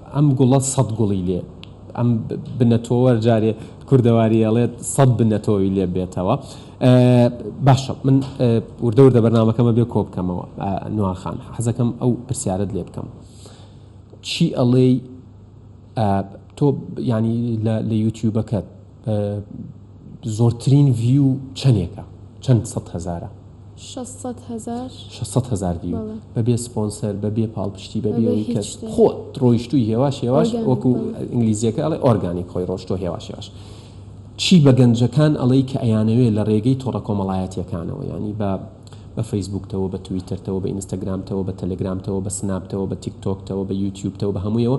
ئەم گوڵە سەد گوڵی لێ. ئەم بنە تۆوەر جارێ کوردەواری ئەڵێت سەد بنە تۆوی لێ بێتەوە. باشە من وردە وردە بەرنامەکەمە بێ کۆ بکەمەوە. نوار خان حەزەکەم ئەو پرسیارەت لێ بکەم چی ئەڵێی تۆ یانی لە یوتیوبەکەت. زۆرترین ڤیو چەنێکە چەند سەد هەزارە؟ شەست سەد هەزار. شەست سەد هەزار ڤیو بەڵێ. بەبێ سپۆنسەر بەبێ پاڵپشتی بەبێ بەبێ ئەوەی هیچ کەس شتێ. خۆت ڕۆیشتوی هێواش هێواش Organic، وەکو بەڵێ. ئینگلیزیەکە ئەڵێ ئۆرگانیک خۆی ڕۆشتوە هێواش هێواش چی بە گەنجەکان ئەڵێی کە ئەیانەوێ لە ڕێگەی تۆڕە کۆمەڵایەتیەکانەوە یانی بە بە فەیسبوکتەوە بە تویتەرتەوە بە ئینستاگرامتەوە بە تەلەگرامتەوە بە سناپتەوە بە تیک تۆکتەوە بە یوتیوبتەوە بە هەمویەوە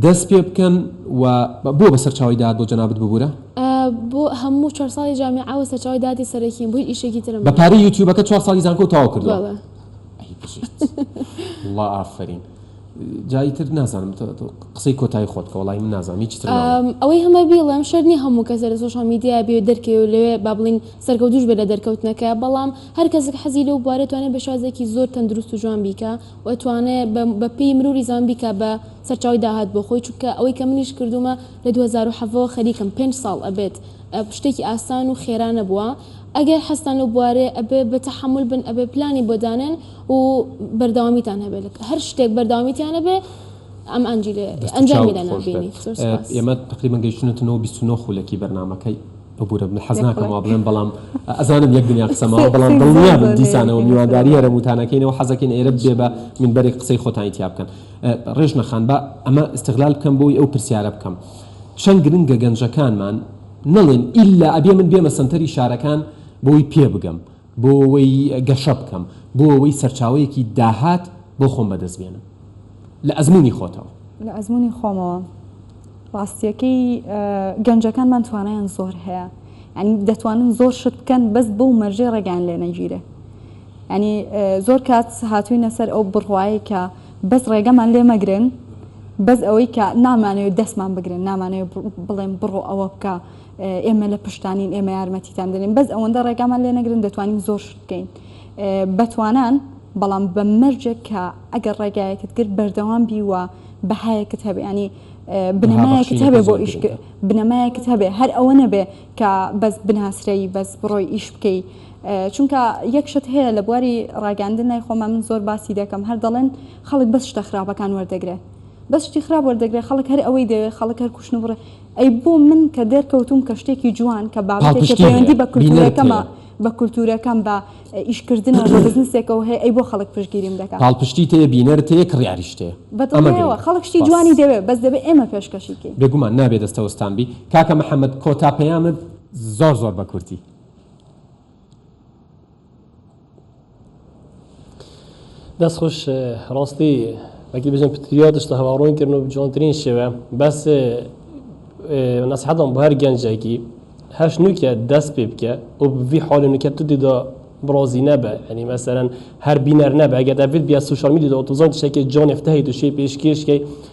دەست پێ بکەن و بۆ بە سەرچاوەی داهات بۆ جەنابت ببورە؟ بۆ هەموو چوار ساڵی جامیعە و سەرچاوەی داهاتی سەرەکیم بۆ هیچ ئیشێکی ترم بە پارەی یوتیوبەکە چوار ساڵی زانکۆ و تەواو کردووە؟ بەڵێ. ئەی بژیت وەڵا ئافەرین جا ئیتر نازانم قسەی کۆتایی خۆت بکە وەڵای من نازانم هیچی تر ناڵێم. ئەم ئەوەی هەمە بیڵێم شەرت نییە هەموو کەسێ لە سۆشیاڵ میدیا بێ و دەرکەوێ و لەوێ با بڵێین سەرکەوتووش بێ لە دەرکەوتنەکە بەڵام هەر کەسێک حەزی لەو بوارە توانێ بە شێوازێکی زۆر تەندروست و جوان بیکا ئەتوانێ بە پێی مروری زەمەن بیکا بە سەرچاوەی داهات بۆ خۆی چونکە ئەوەی کە منیش کردومە لە دوو هەزار و حەڤە وە خەریکم پێنج ساڵ ئەبێت شتێکی ئاسان و خێرا نەبوە ئەگەر حەزتان لەو بوارەیە ئەبێ بە تەحەمول بن ئەبێ پلانی بۆ دانێن و بەردەوامیتان هەبێ لە هەر شتێک بەردەوامیتان هەبێ ئەم ئەنجیلە دەست و ئەنجامی چاوت لە خۆش بێت نابینی زۆر سوپاس. ئێمە تەقریبەن گەیشتوونەتە نۆ بیست و نۆ خولەکی بەرنامەکەی. ببورە من حەز ناکەم وا بڵێم بەڵام ئەزانم یەک دنیا قسە ماوە بەڵام دڵنیابن دیسانەوە میوانداری هەرەمووتانەکەینەوە حەزەکەین ئێرە ببێ بە مینبەری قسەی خۆتانی تیا بکەن ڕێژنە خان با ئەمە ئیستغلال بکەم بۆی ئەو پرسیارە بکەم چەند گرنگە گەنجەکانمان نەڵێن ئیلا ئەبێ من بێمە سەنتەری شارەکان بۆی پێ بگەم بۆوەی گەشە بکەم، بۆوەی سەرچاوەیەکی داهات بۆ خۆم بەدەست بێنم لە ئەزموونی خۆتەوە. لە ئەزموونی خۆمەوە ڕاستییەکەی گەنجەکانمان توانایان زۆر هەیە، یانی دەتوانن زۆر شت بکەن بەس بەو مەرجەی ڕێگەیان لێ نەگیرێ. یانی زۆر کات هاتووینە سەر ئەو بڕوایەی کە بەس ڕێگەمان لێ مەگرن، بەس ئەوەی کە نامانەوێ دەستمان بگرن، نامانەوێ بڵێن بڕۆ ئەوە بکە، ئێمە لە پشتتانین ئێمە یارمەتیتان دەدەین بەس ئەوەندە ڕێگامان لێ نەگرن دەتوانین زۆر شت بکەین بەتوانان بەڵام بە مەرجێک کە ئەگەر ڕێگایەکت گرت بەردەوام بی و بەهایەکت هەبێ ینی بنەمایەکت هەبێ بۆ ئیش بنەمایەکت هەبێ هەر ئەوە نەبێ کە بەس بناسرەی بەس بڕۆی ئیش بکەی چونکە یەکشت هەیە لە بواری ڕاگەاندن نای خۆمە من زۆر باسی دەکەم هەر دەڵێن خەڵک بەس شتە خراپەکان وەردەگرێ بەس شتی خراپ وەردەگرێ خەڵک هەر ئەوەی دەوێ خەڵک هەر کوشتن بڕێ ئەی بۆ من کە دەرکەوتووم کە شتێکی جوان کە بابەتێک کە پەیوەندی بە کولتوورەکەمە، بە کولتوورەکەم، بە ئیشکردنەوە، بە بزنسێکەوە هەیە، ئەی بۆ خەڵک پشتگیریم دەکا؟ پاڵپشتیت هەیە، بینەرت هەیە، کڕیاریشت هەیە. بە دڵنیایەوە، خەڵک شتی جوانی دەوێ، بەس دەبێ ئێمە پێشکەشی کەین. بێگومان، نابێ دەستەوستان بی. کاکە محەمەد، کۆتا پەیامت زۆر زۆر بە کورتی. دەست خوش ڕاستی وەکی بژن پتریاتش تە هەواڕۆن کردن و جوانترین شێوە بەس نەسحەتم بۆ هەر گەنجێکی هەش نوکە دەست پێ بکە و بڤی حالی نوکە تو دیدا برازی نەبە ینی مەسەرەن هەر بینەر نەبە ئەگە دەبێت بیا سوشال میدی دەوتوزان شێکی جۆنێفتەی دوشی پێشکێشکەی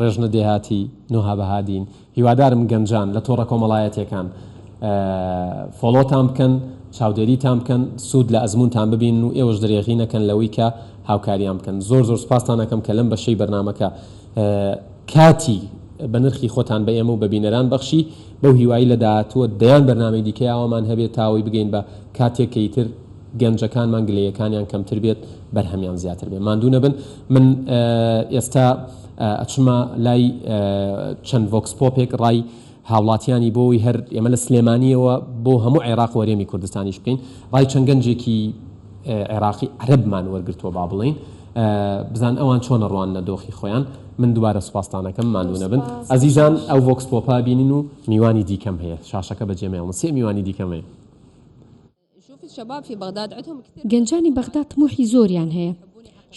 ڕێژنە دێهاتی، نوها بەهادین، هیوادارم گەنجان لە تۆڕە کۆمەڵایەتیەکان فۆڵۆتان بکەن، چاودێریتان بکەن، سوود لە ئەزموونتان ببینن و ئێوەش درێغی نەکەن لەوەی کە هاوکاریان بکەن. زۆر زۆر سوپاستان ئەکەم کە لەم بەشەی بەرنامەکە کاتی بە نرخی خۆتان بە ئێمە و بە بینەران بەخشی، بەو هیوایەی لە داهاتووە دەیان بەرنامەی دیکەی ئاوامان هەبێت تا ئەوەی بگەین بە کاتێک کە ئیتر گەنجەکانمان گلەیەکانیان کەمتر بێت بەرهەمیان زیاتر بێت ماندوو نەبن من ئێستا ئەچمە لای چەند ڤۆکس پۆپێک ڕای هاوڵاتیانی بۆی هەر ئێمە لە سلێمانیەوە بۆ هەموو عێراق وەرێمی کوردستانیش بکەین ڕای چەند گەنجێکی عێراقی عەرەبمان وەرگرتووە با بڵێین بزان ئەوان چۆنە ڕوانە دۆخی خۆیان من دوبارە سوپاستانەکەم ماندوو نەبن ئەزیزان ئەو ڤۆکس پۆپا بینین و میوانی دیکەم هەیە شاشەکە بەجێمەوە سێ میوانی دیکەم هەیە گەنجانی بەغدا تموحی زۆریان هەیە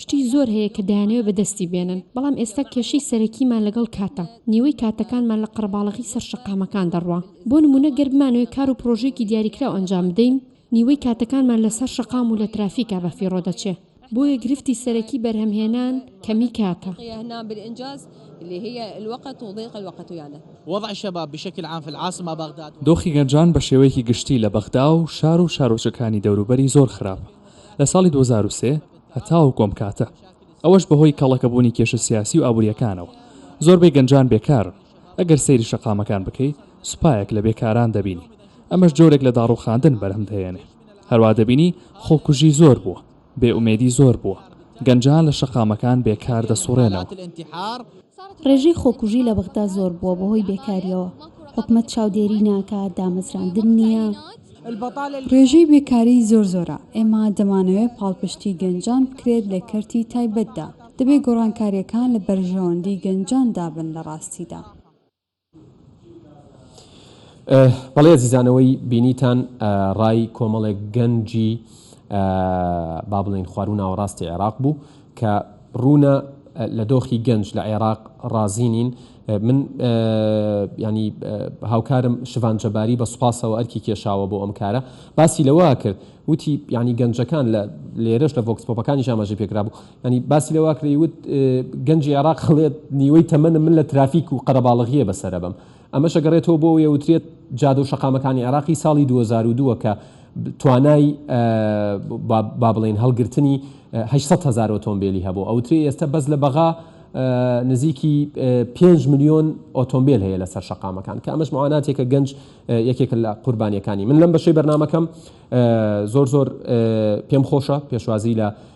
شتی زۆر هەیە کە دەیانەوێت بەدەستی بێنن بەڵام ئێستا کێشەی سەرەکیمان لەگەڵ کاتە نیوەی کاتەکانمان لە قەرەباڵغی سەر شەقامەکان دەڕوا بۆ نمونە گەر بمانەوێت کار و پرۆژەیەکی دیاریکراو ئەنجام بدەین نیوەی کاتەکانمان لەسەر شەقام و لە ترافیکا بەفیڕۆ دەچێ بۆیە گرفتی سەرەکی بەرهەمهێنان کەمی کاتە. دۆخی گەنجان بە شێوەیەکی گشتی لە بەغدا و شار و شارۆچکەکانی دەوروبەری زۆر خراپە لە ساڵی دوو هەزار و سێ هەتاوەکو ئەم کاتە، ئەوەش بەهۆی کەڵەکەبوونی کێشە سیاسی و ئابوورییەکانەوە، زۆربەی گەنجان بێکارن، ئەگەر سەیری شەقامەکان بکەی سوپایەک لە بێکاران دەبینی، ئەمەش جۆرێک لە داڕووخاندن بەرهەم دەهێنێ. هەروا دەبینی خۆکوژی زۆر بووە، بێ ئومێدی زۆر بووە، گەنجان لە شەقامەکان بێ کار دەسوڕێنەوە. ڕێژەی خۆکوژی لە بەغدا زۆر بووە بەهۆی بێکارییەوە، حکومەت چاودێری ناکات، دامەزراندن نییە. ڕێژەی بێکاری زۆر زۆرە، ئێمە دەمانەوێت پاڵپشتی گەنجان بکرێت لە کەرتی تایبەتدا، دەبێت گۆڕانکارییەکان لە بەرژەوەندی گەنجاندا بن لە ڕاستیدا. بەڵی ئەزیزان ئەوەی بینیتان ڕای کۆمەڵێک گەنجی با بڵێین خواروو ناوەڕاستی عێراق بوو کە ڕوونە لە دۆخی گەنج لە عێراق ڕازی نین من ینی هاوکارم شڤان جەباری بە سوپاسەوە ئەرکی کێشاوە بۆ ئەم کارە باسی لەوە کرد وتی ینی گەنجەکان لە لێرەش لە ڤۆکسپۆپەکانی ژاماژی پێکرابوو یانی باسی لەواکرێی وت گەنجی عێراق هەڵێت نیوەی تەمەنم من لە ترافیک و قەرەباڵغییە بەسەرەبەم ئەمەش ئەگەڕێتەوە بۆ ئەوەی ئەوترێت جادە و شەقامەکانی عێراقی ساڵی دوو هەزار و دوو کە توانای با بڵێین هەڵگرتنی هەشت سەد هەزار ئۆتۆمبێلی هەبوو ئەوترێ ئێستا بەس لە بەغا نزیکی پێنج ملیۆن ئۆتۆمبیل هەیە لەسەر شەقامەکان کە ئەمەش معاناتێکە گەنج یەکێکە لە قوربانیەکانی من لەم بەشەی بەرنمەکەم زۆر زۆر پێم خۆشە پێشوازی لە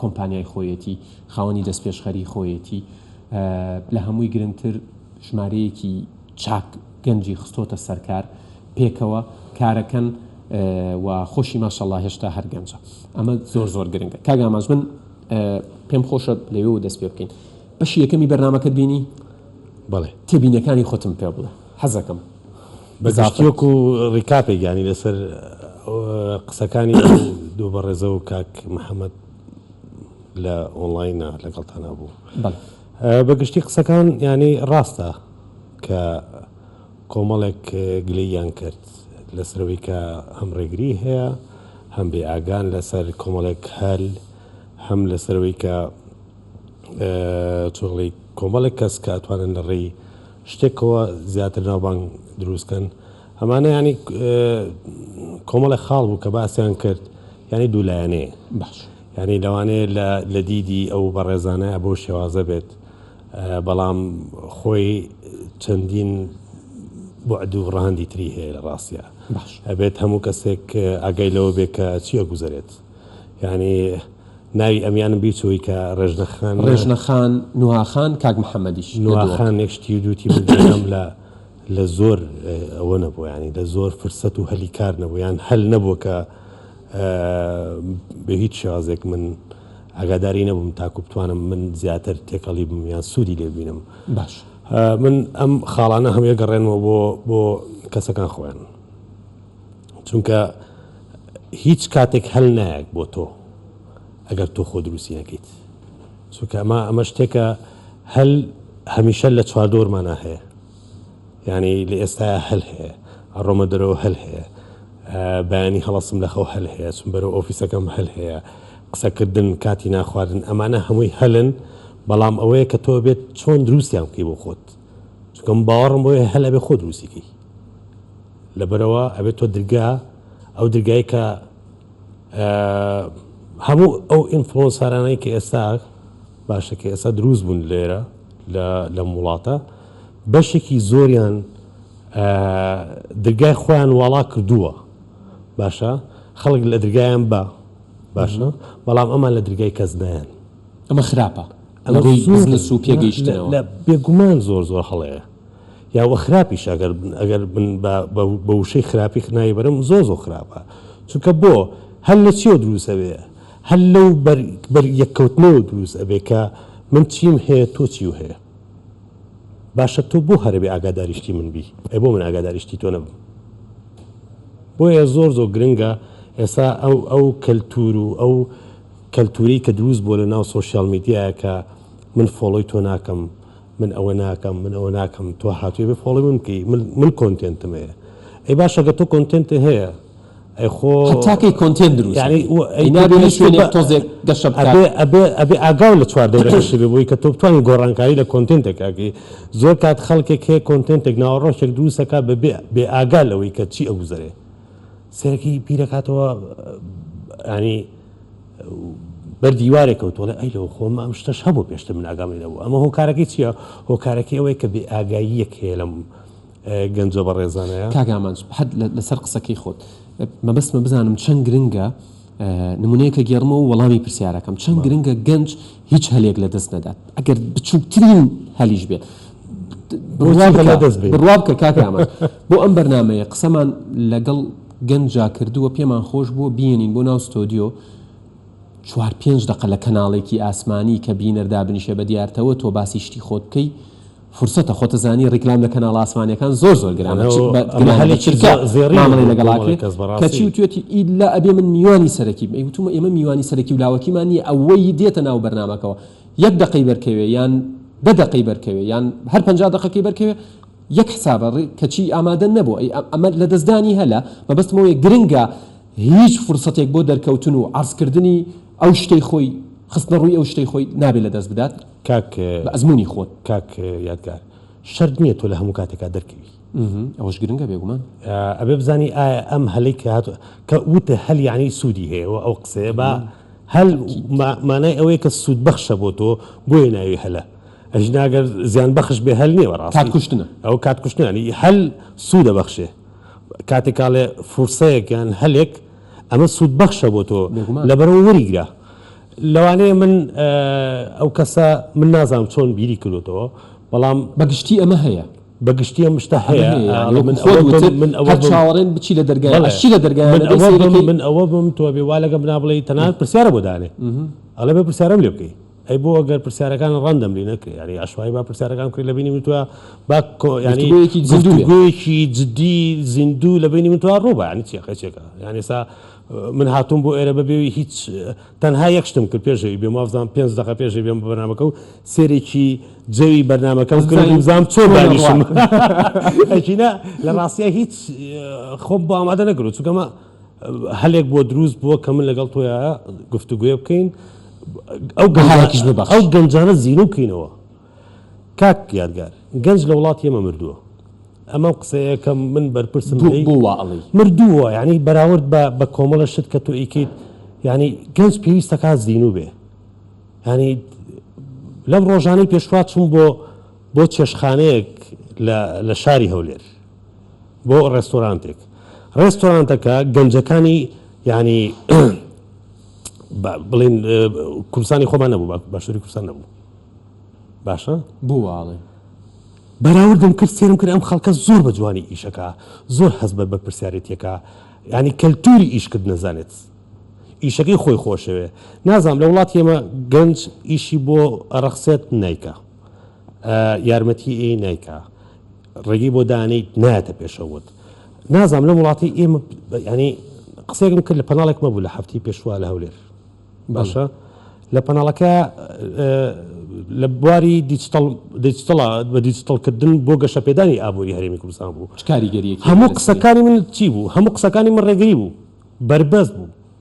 کۆمپانیای خۆیەتی، خاوەنی دەستپێشخەری خۆیەتی، لە هەمووی گرنگتر ژمارەیەکی چاک گەنجی خستۆتە سەرکار، پێکەوە کارەکەن و خۆشی ماشااللە هێشتا هەر گەنجە، ئەمە زۆر زۆر گرنگە. کاک ئامانج من پێم خۆشە لەوێوە دەست پێ بکەین. بەشی یەکەمی بەرنامەکەت بینی؟ بەڵێ. تێبینیەکانی خۆتم پێ بڵێ حەزەکەم. بە گشتی وەکو ڕیکاپێک یانی لەسەر قسەکانی ئەو دوو بەڕێزە و کاک محەمەد لە ئۆنڵاینە لەگەڵتانا بوو بە گشتی قسەکان یانی ڕاستە کە کۆمەڵێک گلەییان کرد لەسەرەوەی کە هەم ڕێگری هەیە هەم بێ ئاگان لەسەر کۆمەڵێک هەل هەم لەسەرەوەی کە چۆڵی کۆمەڵێک کەس کە ئەتوانن لە ڕێی شتێکەوە زیاتر ناوبانگ دروست کەن ئەمانە یانی کۆمەڵێ خاڵ بوو کە باسیان کرد یانی دوو لایەنەیە باش یانی لەوانەیە لە لە دیدی ئەو بەڕێزانە بەو شێوازە بێت بەڵام خۆی چەندین بعد و ڕەهەندی تری هەیە لە ڕاستیا باش ئەبێت هەموو کەسێک ئاگای لەوە بێت کە چی ئەگوزەرێت. یانی ناوی ئەمیانم بیچووی کە ڕێژنە خان ڕێژنە خان نوها خان کاک محەممەدیش نوها خان یەکشتی دووتی بگەم لە لە زۆر ئەوە نەبوو ینی لە زۆر فرسەت و هەلی کار نەبوو یان هەل نەبووە کە بە هیچ شازێک من ئاگاداری نەبووم تاکو بتوانم من زیاتر تێکەڵی بم یان سوودی لێبینم باش من ئەم خاڵانە هەموویە گەڕێنەوە بۆ بۆ کەسەکان خۆیان چونکە هیچ کاتێک هەل نایەک بۆ تۆ ئەگەر تۆ خۆ دروستی نەکەیت چونکە ئەمە ئەمە شتێکە هەل هەمیشە لە چواردۆرمانە هەیە یعنی لە ئێستا هەل هەیە ئەڕۆمە دەرەوە هەل هەیە بەیانی هەڵسم لە خەو هەل هەیە چون بەرەو ئۆفیسەکەم هەل هەیە قسەکردن کاتی ناخواردن ئەمانە هەمووی هەلن بەڵام ئەوەیە کە تۆ بێت چۆن دروستیان بکەی بۆ خۆت چونکەم باوەڕم بۆیە هەل ئەبێ خۆ دروستیکەی لەبەرئەوە ئەبێت تۆ درگا ئەو درگای کە هەموو ئەو ئینفلۆنسارانەی کە ئێستا باشە کە ئێستا دروست بوون لێرە لەم وڵاتە بەشێکی زۆریان درگای خۆیان واڵا کردووە باشە خەڵک لە درگایان بە باشە بەڵام ئەمان لە درگای کەس نیان ئەمە خراپە ئەمە زوو پێگەیشتەوە لە بێگومان زۆر زۆر هەڵەیە یا وە خراپیش ئەگەر بن ئەگەر بن بە بە وشەی خراپیخ ناوی بەرم زۆر زۆر خراپە چونکە بۆ هەر لە چیەوە دروست ئەبێ هەر لەو بەر بەر یەککەوتنەوە دروست ئەبێ کە من چیم هەیە تۆ چیو هەیە باشە تۆ بۆ هەرەبێ ئاگاداری شتی من بی ئەی بۆ من ئاگاداری شتی تۆ نەبم بۆیە زۆر زۆر گرنگە ئێستا ئەو ئەو کەلتور و ئەو کەلتوری کە دروست بۆ لە ناو سۆسیال میدیایە کە من فۆڵۆی تۆ ناکەم من ئەوە ناکەم من ئەوە ناکەم تۆ هاتوی بێ فۆڵۆی من بکەی من من کۆنتێنتم هەیە ئەی باشە گەر تۆ کۆنتێنت هەیە ئەی خۆ هەتا کەی کۆنتێنت دروست یانی بکەی. و ئەی ئینا بێ پێویست شوێنێک بە- تۆزێک گەشە بکات ئەبێ ئەبێ ئەبێ ئاگاو لە چوار دەورەکەشی بێ بۆی کە تۆ بتوانی گۆڕانکاری لە کۆنتێنتێک ئەکەی زۆر کات خەڵکێک هەیە کۆنتێنتێک ناوەڕۆکێک دروست ئەکا بە بێ بێ ئاگا لەوەی کە چی ئەگوزەرێ سەرەکی بیر ئەکاتەوە ینی بەر دیوارێ کەوت و ئەڵێ ئەی لەوە خۆ ئەم شتەش هەبوو پێشتر من ئاگام لێ نەبوو. ئەمە هۆکارەکەی چییە؟ هۆکارەکەی ئەوەیە کە بێ ئاگاییەک هەیە لەم گەنجە بەڕێزانەیا. کاک ئامانج حەد لەسەر قسەکەی خۆت. مەبەستمە بزانم چەند گرنگە نموونەیەک ئەگێڕمەوە و وەڵامی پرسیارەکەم، چەند گرنگە گەنج هیچ هەلێک لە دەست نەدات، ئەگەر بچووکترین هەلیش بێت. بڕوا بکە کاک ئامانج بۆ ئەم بەرنامەیە قسەمان لەگەڵ گەنجا کردووە پێمان خۆش بووە بیێنین بۆ ناو ستۆدیۆ چوار پێنج دەقە لە کەناڵێکی ئاسمانی کە بینەر دابنیشێ بە دیارتەوە تۆ باسی شتی خۆت بکەی فرسەتە خۆتە زانی ڕیکلام لە کەناڵ ئاسمانیەکان زۆر زۆر گرانە مامەڵی لەگەڵاکەی کەچی وتێتی ئیلا ئەبێ من میوانی سەرەکی بم وتومە ئێمە میوانی سەرەکی و لاوەکیمان نیە ئەوەی دێتە ناو بەرنمەکەەوە یەک دقی بەرکەوێ یان دە دقی بەرکەوێ یان هەر پنج دقەکەی بەرکەوێ یەک حسابە ڕی کەچی ئامادە نەبوو ئەی ئەمە لەدەستدانی هەلە مەبەستم ئەوەیە گرنگە هیچ فرسەتێک بۆ دەرکەوتن و عەرز کردنی ئەو شتەی خۆی خستنە ڕووی ئەو شتەی خۆی نابێ لەدەست بدات کاک بە ئەزموونی خۆت. کاک یادگار شەرت نییە تۆ لە هەموو کاتێکا دەرکەوی. ئمم ئەوەش گرنگە بێگومان. ئەبێ بزانی ئایا ئەم هەلەی کە هاتووە کە وت هەل یەعنی سوودی هەیە و ئەو قسەیە با هەل مانای ئەوەیە کە سوودبەخشە بۆ تۆ بۆیە ناوی هەلە. ئەژنە ئەگەر زیان بەخش بێ هەل نیە بەڕاستی کات کوشتنە ئەو کات کوشتنانی هەل سوودە بەخشێ کاتێکاڵێ فرسەیەک یان هەلێک ئەمە سوود بەخشە بۆ تۆ لەبەرەوە وەریگرە لەوانەیە من ئەو کەسە من نازانم چۆن بیری کردوتەوە بەڵام بەگشتی ئەمە هەیە بەگشتی ئەم شتا هەیە من ئەوە چاوەڕێن بچی لە دەرگایشی لە دەرگای من ئەوە بم تۆ بێ وا لەگە بنا بڵێ تەنان پرسیارە بۆ دانێ ئەڵێ بە پرسیارم لێ بکەی ئەی بۆ گەر پرسیارەکان ڕەندەملی نەکرێ یاری عشوایی با پرسیارەکان بکرێت لە بینی من توا با ینی گفتگویەکی جدی زیندوو لە بینی من توا ڕوو بە ینی چێقە چێکە یان ئێستا من هاتووم بۆ ئێرە بەبێوی هیچ تەنها یەک شتم کرد پێشەوی بێ مافزان پێ دقە پێشی بێم بە بەنامەکە و سێرێکی جەوی بەرنمەکەم کردم زام چۆن دانیشم ئەچینە لە ڕاستە هیچ خۆم بۆ ئامادە نەکرد چونکەمە هەلێک بۆ دروست بووە کە من لەگەڵ تۆیا گفتوگۆێ بکەین ئەو گەنجانەکیش ببەخش ئەو گەنجانە زیرو بکەینەوە کاک یادگار گەنج لە وڵاتی ئێمە مردووە ئەمەم قسەیەکەم من بەرپرسم مردووە ینی بەراورد بە بە کۆمەڵە شت کە تۆ ئیکیت ینی گەنج پێویستەکە زیینو بێ ینی لەم ڕۆژانەی پێشوا چوون بۆ بۆ چێشخانەیەک لە شاری هەولێر بۆ ڕێستۆرانتێک ڕێستۆرانتەکە گەنجەکانی یعنی بڵین کوردستانی خۆمان نەبوو باشووری کوردستان نەبوو باشە بوواڵێ بەراوردم کرد سێرم کرد ئەم خەڵکە زۆر بە جوانی ئیشەکە زۆر هەز بە بە پرسیارەتەکە ینی کەلتوری ئیشکرد نەزانێت ئیشەکەی خۆی خۆشەوێ نازانام لە وڵات ئێمە گەنج ئیشی بۆ ئەڕەخسێت نیکە یارمەتی ئەی نیکە ڕێگەی بۆ دانێیت نایەتە پێشەووت. نازانم لەم وڵاتەی ئێمە یانی قسەیەکم کرد لە پەناڵێکمە بوو لە هەفتەی پێشوا لە هەولێر باشە لە پەناڵەکە لە بواری دیجتڵا بە دیجتڵکردن بۆ گەشەپێدانی ئابووری هەرێمی کوردستان بوو کاریگەری هەموو قسەکانی من چی بوو هەموو قسەکانی من ڕێگری بوو بەربەست بوو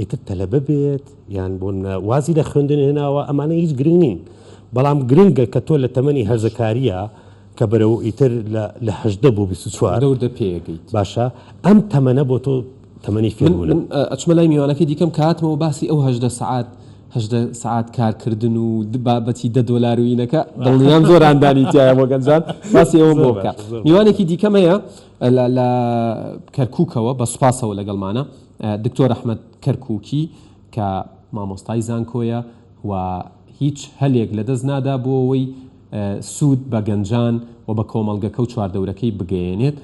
ئیتر تەلەبە بێت یان بۆ نمونە وازی لە خوێندن هێناوە ئەمانە هیچ گرنگ نین بەڵام گرنگە کە تۆ لە تەمەنی هەرزەکارییە کە بەرەو ئیتر لە هەژدە بۆ بیست و چوار لە وردە پێگەیت باشە ئەم تەمەنە بۆ تۆ تەمەنی فێربوونە. من ئەچمە لای میوانەکەی دیکەم کە هاتمەوە باسی ئەو هەژدە سەعات هەژدە سەعات کارکردن و بابەتی دە دۆلار و یینەکە دڵنیام زۆر هاندانی تیایە بۆ گەنجان باسی ئەوەم بۆ بکە. میوانێکی دیکەم هەیە لە کەرکووکەوە بە سوپاسەوە لەگەڵمانە. دکتۆر ئەحمەد کەرکوکی کە مامۆستای زانکۆیە و هیچ هەلێک لەدەست نادا بۆ ئەوەی سود بە گەنجان و بە کۆمەڵگەکە و چواردەورەکەی بگەیەنێت.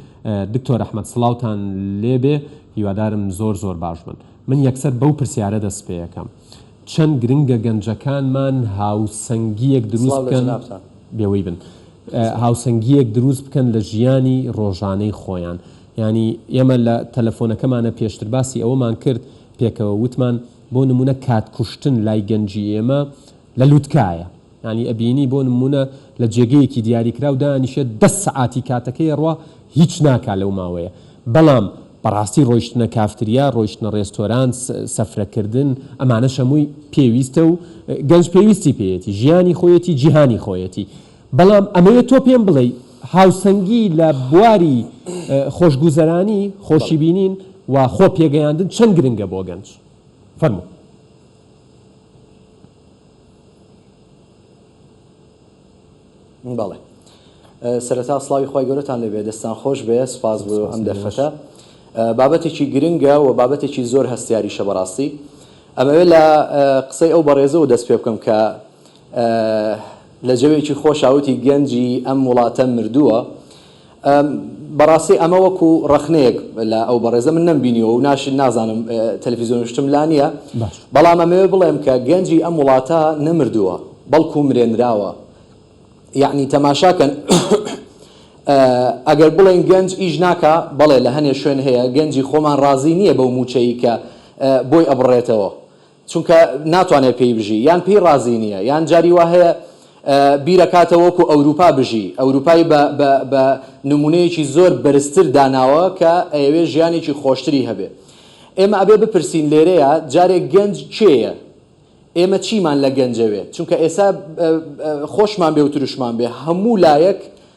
دکتۆر ئەحمەد سڵاوتان لێ بێ، هیوادارم زۆر زۆر باش بن. من یەکسەر بەو پرسیارە دەست پێەکەم چەند گرنگە گەنجەکانمان هاوسەنگیەک دروست بکەن بێوەی بن هاوسەنگیەک دروست بکەن لە ژیانی ڕۆژانەی خۆیان. یانی ئێمە لە تەلەفۆنەکەمانا پێشتر باسی ئەوەمان کرد پێکەوە وتمان بۆ نموونە کات کوشتن لای گەنجی ئێمە لە لوتکایە یانی ئەبینی بۆ نموونە لە جێگەیەکی دیاریکراو دانیشێت دە سەعاتی کاتەکەی ئەڕوا هیچ ناکا لەو ماوەیە بەڵام بەڕاستی ڕۆیشتنە کافتریا ڕۆیشتنە ڕێستۆران سفرە کردن ئەمانەش هەمووی پێویستە و گەنج پێویستی پێیەتی ژیانی خۆیەتی جیهانی خۆیەتی بەڵام ئەمەوێ تۆ پێم بڵێی هاوسەنگی لە بواری خۆشگوزەرانی، خۆشی بینین و خۆ پێگەیاندن چەند گرنگە بۆ گەنج؟ فەرموو. بەڵێ. سەرەتا سڵاوی خوای گەورەتان لێ بێ، دەستتان خۆش بێ، سوپاس بۆ ئەم دەرفەتە. بابەتێکی گرنگە و بابەتێکی زۆر هەستیاریشە بەڕاستی. ئەمەوێ لە قسەی ئەو بەڕێزەوە دەست پێ بکەم کە، لە جەوێکی خۆشا وتی گەنجی ئەم وڵاتە مردووە. بەڕاستی ئەمە وەکو ڕەخنەیەک لە ئەو بەڕێزە من نەمبینیوە و ناش نازانم تەلەفیزیۆنشتم لا نییە بەڵام ئەمەوێ بڵێم کە گەنجی ئەم وڵاتە نەمردووە بەڵکو مرێنراوە یەعنی تەماشاکەن ئەگەر بڵێن گەنج ئیش ناکا بەڵێ لە هەنێ شوێن هەیە گەنجی خۆمان ڕازی نییە بەو مووچەی کە بۆی ئەبڕێتەوە چونکە ناتوانێت پێی بژی یان پێی ڕازی نییە یان جاری وا هەیە بیرەکاتەوە وەکو ئەوروپا بژی ئەوروپای بە بە بە نمونەیەکی زۆر بەرزتر داناوە کە ئەیەوێ ژیانێکی خۆشتری هەبێ ئێمە ئەبێ بپرسین لێرەیە جارێ گەنج کێیە ئێمە چیمان لە گەنجەوێ چونکە ئێسا خۆشمان بێ و ترشمان بێ هەموو لایەک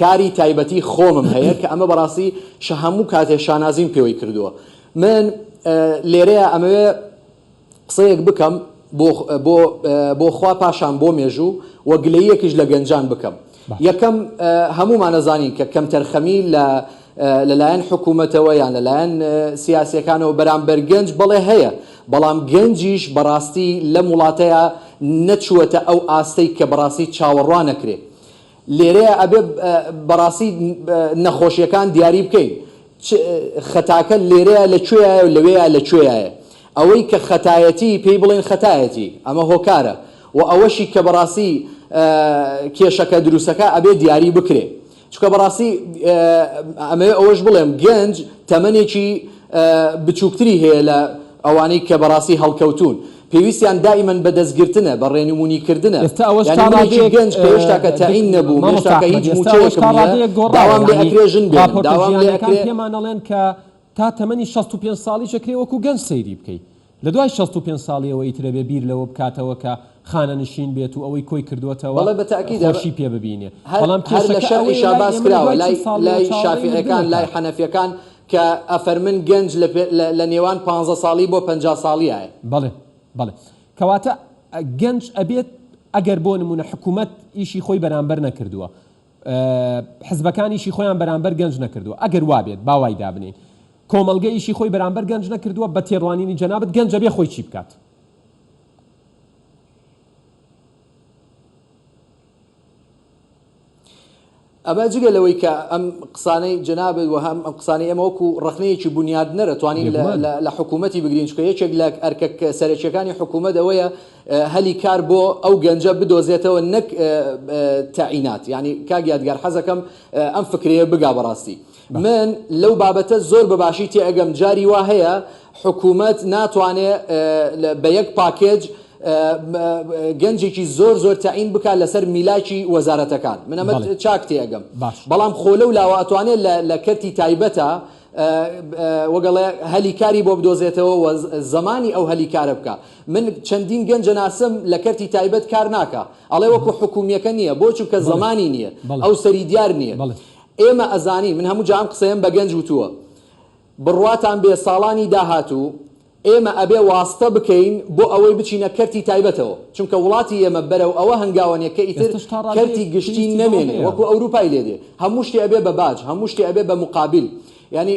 کاری تایبەتی خۆمم هەیە کە ئەمە بەڕاستی شە هەموو کاتێ شانازیم پێوەی کردووە من لێرەیە ئەمەوێ قسەیەک بکەم بۆ بۆ بۆ خوا پاشان بۆ مێژوو و گلەییەکیش لە گەنجان بکەم یەکەم هەموومان ئەزانین کە کەمتەرخەمی لە لەلایەن حکوومەتەوە یان لەلایەن سیاسیەکانەوە بەرامبەر گەنج بەڵێ هەیە بەڵام گەنجیش بەڕاستی لەم وڵاتەیە نەچووەتە ئەو ئاستەی کە بەڕاستی چاوەڕوانەکرێ لێرەیە ئەبێ بەڕاستی نەخۆشیەکان دیاری بکەین چ خەتاکە لێرەیە لە کوێیایە و لەوێیا لە کوێیایە ئەوەی کە خەتایەتی پێی بڵێن خەتایەتی ئەمە هۆکارە و ئەوەشی کە بەڕاستی کێشەکە دروستەکە ئەبێ دیاری بکرێ چونکە بەڕاستی ئەمەوێ ئەوەش بڵێم گەنج تەمەنێکی بچووکتری هەیە لە ئەوانەی کە بەڕاستی هەڵکەوتوون پێویستیان دائیمەن بە دەستگرتنە بە ڕێنومونی کردنە ئێستا ئەوەش یانی تا منێکی ڕادەیەک گەنج کە هێشتا کە دک تەعین نەبووم مامۆستا هێشتا کە ئەحمەد هیچ ئێستا ئەوەش مووچەیەکم تا نییە ڕادەیەک گۆڕاوە داوام لێ یانی ئەکرێ ژن بێنم ڕاپۆرتە داوام لێ جیهانیەکان ئەکرێ پێمان ئەڵێن کە تا تەمەنی شەست و پێنج ساڵیش ئەکرێ وەکو گەنج سەیری بکەی لە دوای شەست و پێنج ساڵیەوە ئیتر ئەبێ بیر لەوە بکاتەوە کە خانەنشین بێت و ئەوەی کۆی کردووەتەوە بەڵێ بە تەئکید ئەمە خۆشی پێ ببینێ هەر بەڵام هەر لە کێشەکە شەرعی ئەوەیە شا لای باس ئێمە لە کراوە دوای چل لای ساڵ لەوە لای چاوەڕێی لە شافعیەکان لای بنەکە. حەنەفیەکان کە ئەفەرمن گەنج لە پێ لە لە نێوان پانزە ساڵی بۆ پەنجا ساڵیایە. بەڵێ بەڵێ کەواتە گەنج ئەبێت ئەگەر بۆ نموونە حکومەت ئیشی خۆی بەرامبەر نەکردووە، حزبەکان ئیشی خۆیان بەرامبەر گەنج نەکردووە ئەگەر وابێت با وای دابنێین کۆمەڵگە ئیشی خۆی بەرامبەر گەنج نەکردووە بە تێڕوانینی جەنابت گەنج ئەبێ خۆی چی بکات؟ ئەمە جگە لەوەی کە ئەم قسانەی جەنابت و هەم ئەم قسانەی ئێمە وەکو ڕەخنەیەکی بونیادنەرە توانین لە حکوومەتی بگرین چونکە یەکێک لە ئەرکە سەرەکییەکانی حکوومەت ئەوەیە هەلی کار بۆ ئەو گەنجە بدۆزێتەوە نەک تەعینات یانی کاک یادگار حەزەکەم ئەم فکرەیە بگا بەڕاستی من لەو بابەتە زۆر بەباشی تێئەگەم جاری وا هەیە حکومەت ناتوانێ بە یەک پاکێج گەنجێکی زۆر زۆر تەعین بکات لەسەر میلاکی وەزارەتەکان من ئەمە چاک تێئەگەم بەڵام خۆ لەو لاوە ئەتوانێ لە کەرتی تایبەتە وەگەڵێ هەلی کاری بۆ بدۆزێتەوە و زەمانی ئەو هەلی کارە بکا من چەندین گەنج ئەناسم لە کەرتی تایبەت کار ناکا ئەڵێ وەکو حکومیەکە نیە بۆ چونکە زەمانی نیە ئەو سەری دیار نیە ئێمە ئەزانین من هەموو جار ئەم قسەیەم بە گەنج وتووە بڕواتان بێ ساڵانی داهاتوو ئێمە ئەبێ واستە بکەین بۆ ئەوەی بچینە کەرتی تایبەتەوە چونکە وڵاتی ئێمە بەرەو ئەوە هەنگاوەنێ کە ئیتر کەرتی گشتی نەمێنێ وەکو ئەوروپای لێ دێ هەموو شتێ ئەبێ بە باج هەموو شتێ ئەبێ بە موقابیل یانی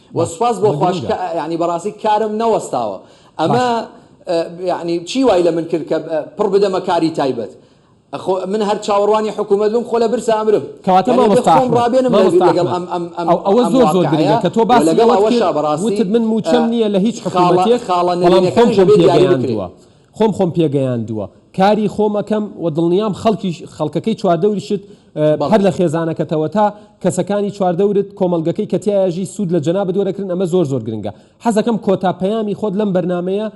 وە سوپاس بۆ خواش کە یانی بەڕاستی کارم نەوەستاوە ئەمە یانی چی وای لە من کرد کە پڕ بدەمە کاری تایبەت خۆ من هەر چاوەڕوانی حکوومەت بم خۆ لە برسا ئەمرم کەواتە مامۆستا ئەحمەد ڕابێنم مامۆستا ئەحمەد لەگەڵ ئەم ئەم ئەم ئەوە ئەم زۆر زۆر واقعەیە گرنگە کە تۆ باسی لەگەڵ ئەوەت ئەوەشا کرد بەڕاستی وتت من مووچەم نییە لە هیچ خاڵە حکوومەتێک خاڵە بەڵام خۆم نەرێنیەکانیش خۆم دەبێ دیاری بکرێ. پێگەیاندووە خۆم خۆم پێگەیاندووە کاری خۆم ئەکەم و دڵنیام خەڵکیش، خەڵکەکەی چواردەوریشت هەر بەڵێ. لە خێزانەکەتەوە تا کەسەکانی چواردەورت، کۆمەڵگەکەی کە تیایا ئەژی سوود لە جەنابت وەرەگرن ئەمە زۆر زۆر گرنگە. حەزەکەم کۆتا پەیامی خۆت لەم بەرنامەیە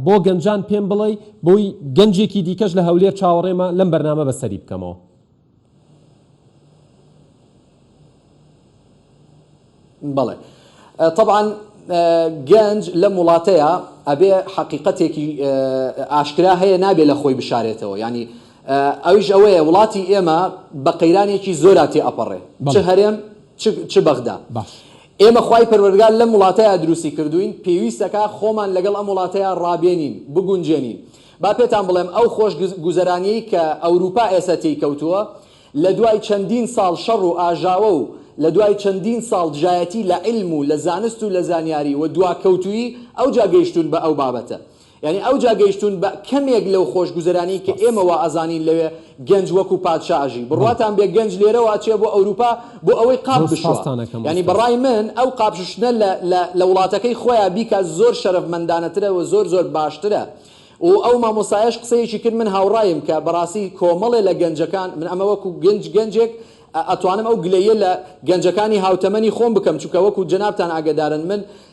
بۆ گەنجان پێم بڵێی بۆی گەنجێکی دیکەش لە هەولێر چاوەڕێمە لەم بەرنامە بەسەری بکەمەوە. بەڵێ تەبعەن گەنج لەم وڵاتەیا ئەبێ حەقیقەتێکی ئاشکرا هەیە نابێ لە خۆی بشارێتەوە یانی ئەویش ئەوەیە وڵاتی ئێمە بە قەیرانێکی زۆرا تێ ئەپەڕێ چ هەرێم چ بەغدا ئێمە خوای پەروەردگار لەم وڵاتەیا دروستی کردووین پێویستەکا خۆمان لەگەڵ ئەم وڵاتەیا ڕابێنین بگونجێنین با پێتان بڵێم ئەو خۆش گوزەرانیەی کە ئەوروپا ئێستا تێی کەوتووە لە دوای چەندین ساڵ شەڕ و ئاژاوە و لە دوای چەندین ساڵ دژایەتی لە عیلم و لە زانست و لە زانیاری و دواکەوتوویی ئەوجا گەیشتوون بە ئەو بابەتە یانی ئەوجا گەیشتوون بە کەمێک لەو خۆش گوزەرانیەی کە ئێمە وا ئەزانین لەوێ گەنج وەکو پادشا ئەژی بڕواتان بێ گەنج لێرەوە ئەچێ بۆ ئەوروپا بۆ ئەوەی قاپ بشوا یانی بەڕای من ئەو قاپ شوشتنە لە لە لە وڵاتەکەی خۆیا بیکا زۆر شەرەفمەندانەترە و زۆر زۆر باشترە و ئەو مامۆستایەش قسەیەکی کرد من هاوڕایم کە بەڕاستی کۆمەڵێ لە گەنجەکان من ئەمە وەکو گەنج گەنجێک ئەتوانم ئەو گلەییە لە گەنجەکانی هاوتەمەنی خۆم بکەم چونکە وەکو جەنابتان ئاگەدارن من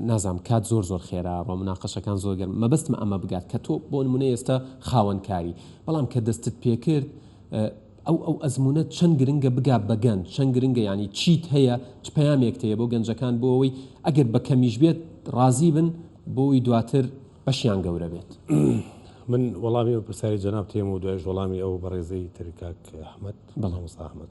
نازانم کات زۆر زۆر خێرا ڕۆ مناقەشەکان زۆر گەرمە مەبەستمە ئەمە بگات کە تۆ بۆ نمونە ئێستا خاوەن کاری بەڵام کە دەستت پێکرد ئەو ئەو ئەزمونە چەند گرنگە بگا بە گەنج چەند گرنگە یانی چیت هەیە چ پەیامێکت هەیە بۆ گەنجەکان بۆ ئەوەی ئەگەر بە کەمیش بێت ڕازی بن بۆی دواتر بەشیان گەورە بێت. من وەڵامی ئەو پرسیاری جەنابت هەیەم و دوایش وەڵامی ئەو بەڕێزەی تر کاک ئەحمەد. بەڵێ مامۆستا ئەحمەد.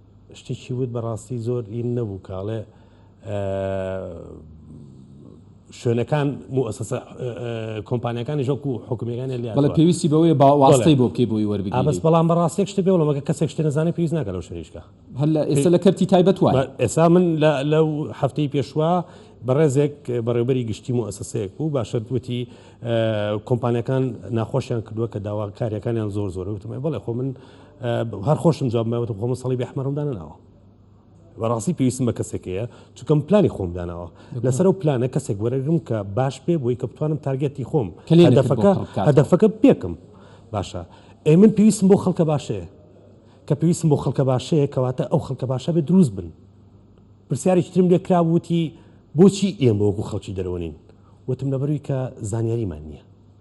شتیکی وت بەڕاستی زۆر ین نەبوو کە ئەڵێ شوێنەکان موئەسەسە کۆمپانیاکانیش وەکو حکومیەکانیان لێ بەڵێ پێویستی بەوەیە با واستەی بۆ بکەی بۆی وەربگیری بەس بەڵام بەڕاستی یەک شتت پێ بڵێم ئەگەر کەسێک شتێ نەزانێ پێویست ناکا لەو شوێنە ئیشکا هەلە ئێستا لە کەرتی تایبەت وایە ئێستا من لەو هەفتەی پێشوە بەڕێزێک بەڕێوبەری گشتی موئەسەسەیەک بوو باشە وتی کۆمپانیەکان ناخۆشیان کردووە کە داواکاریەکانیان زۆر زۆر وتم بڵێ خۆ من هەر خۆشم جواب مەوەتە خۆمە سەڵیبی ئەحمەرم دانەناوە بەڕاستی پێویستم بە کەسێکەیە چونکەم پلانی خۆم داناوە لەسەر و پلانە کەسێک وەرەگرم کە باش پێ بۆی کە بتوانم تارگەتی خۆم هەدەفەکە هەدەفەکە پێکم باشە ئەی من پێویستم بۆ خەڵکە باشەیە کە پێویستم بۆ خەڵکە باشەیە کەواتە ئەو خەڵکە باشە بێ دروست بن پرسیارێکی ترم لێ کرابووتی بۆچی ئێمە وەکو خەڵکی دەرەوەنین وتم لەبەروی کە زانیاریمان نییە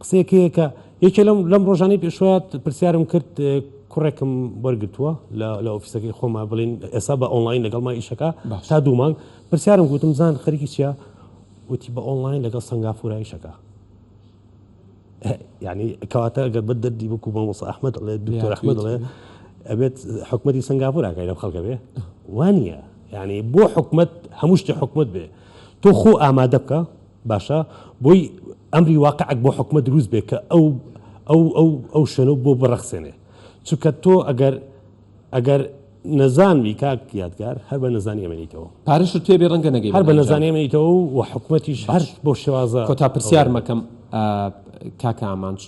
قسەیەکەیەکە یەکێ لەم لەم ڕۆژانەی پێشوە پرسیارم کرد کوڕێکم وەرگتووە لە ئۆفیسەکەی خۆما بڵین ئێسا بە ئۆنلاین لەگەڵ ما ئیشەکە تا دوو مانگ پرسیارم گوتم زان خەریکی چیە وتی بە ئۆنلاین لەگەڵ سنگافورایشەکە یعنی کەواتە گەر بە دەردی بکو بە مۆسا ئەحمد ڵێ دکتۆر ئەحمد ڵێ ئەبێت حکومەتی سنگاپوراکەی لەم خەڵکە بێ وانە یعنی بۆ حکومت هەموو شتی حکومت بێ تۆ خۆ ئامادە بکە باشە بۆی ئەمری واقعەک بۆ حکومەت دروست بێ کە ئەو ئەو ئەو ئەو شوێنە بۆ بڕەخسێنێ چونکە تۆ ئەگەر ئەگەر نەزانوی کاک یادگار هەر بە نەزانی ئەمێنیتەوە. پارەشت پێ بێ ڕەنگە نەگەی بە ئەنجام. هەر بە نەزانی ئەمێنیتەوە و حکومەتیش هەر بەو شێوازە. کۆتا پرسیارم ئەکەم کاک ئامانج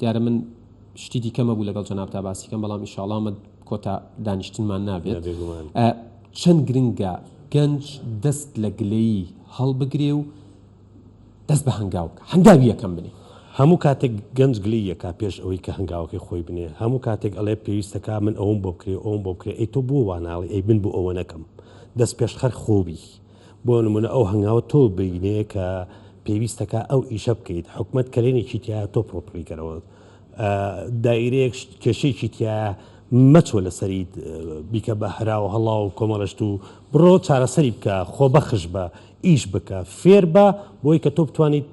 دیارە من شتی دیکەم هەبوو لەگەڵ جەنابتا باسی کەم بەڵام ئیشاڵڵا ئەمە کۆتا دانیشتنمان نابێت. چەند گرنگە گەنج دەست لە گلەیی هەڵبگرێ و دەست بە هەنگاو بکا هەنگاوی یەکەم بنێ. هەموو کاتێک گەنج گلەیی ئەکا پێش ئەوەی کە هەنگاوەکەی خۆی بنێ، هەموو کاتێک ئەڵێ پێویستە کە من ئەوەم بۆ بکرێ و ئەوەم بۆ بکرێ، ئەی تۆ بۆ وا ناڵێی ئەی من بۆ ئەوە نەکەم؟ دەست پێشخەر خۆ بی. بۆ نموونە ئەو هەنگاوە تۆ بینێ کە پێویستە کە ئەو ئیشە بکەیت، حکومەت کەلێنێکی تیایە تۆ پڕۆپڵی کەرەوە. دایرەیەک کێشەیەکی تیایە مەچۆ لەسەریت بیکە بە هەراو هەڵاو کۆمەڵەشت و بڕۆ چارەسەری بکە خۆبەخش بە ئیش بکە فێربە بۆی کە تۆ بتوانیت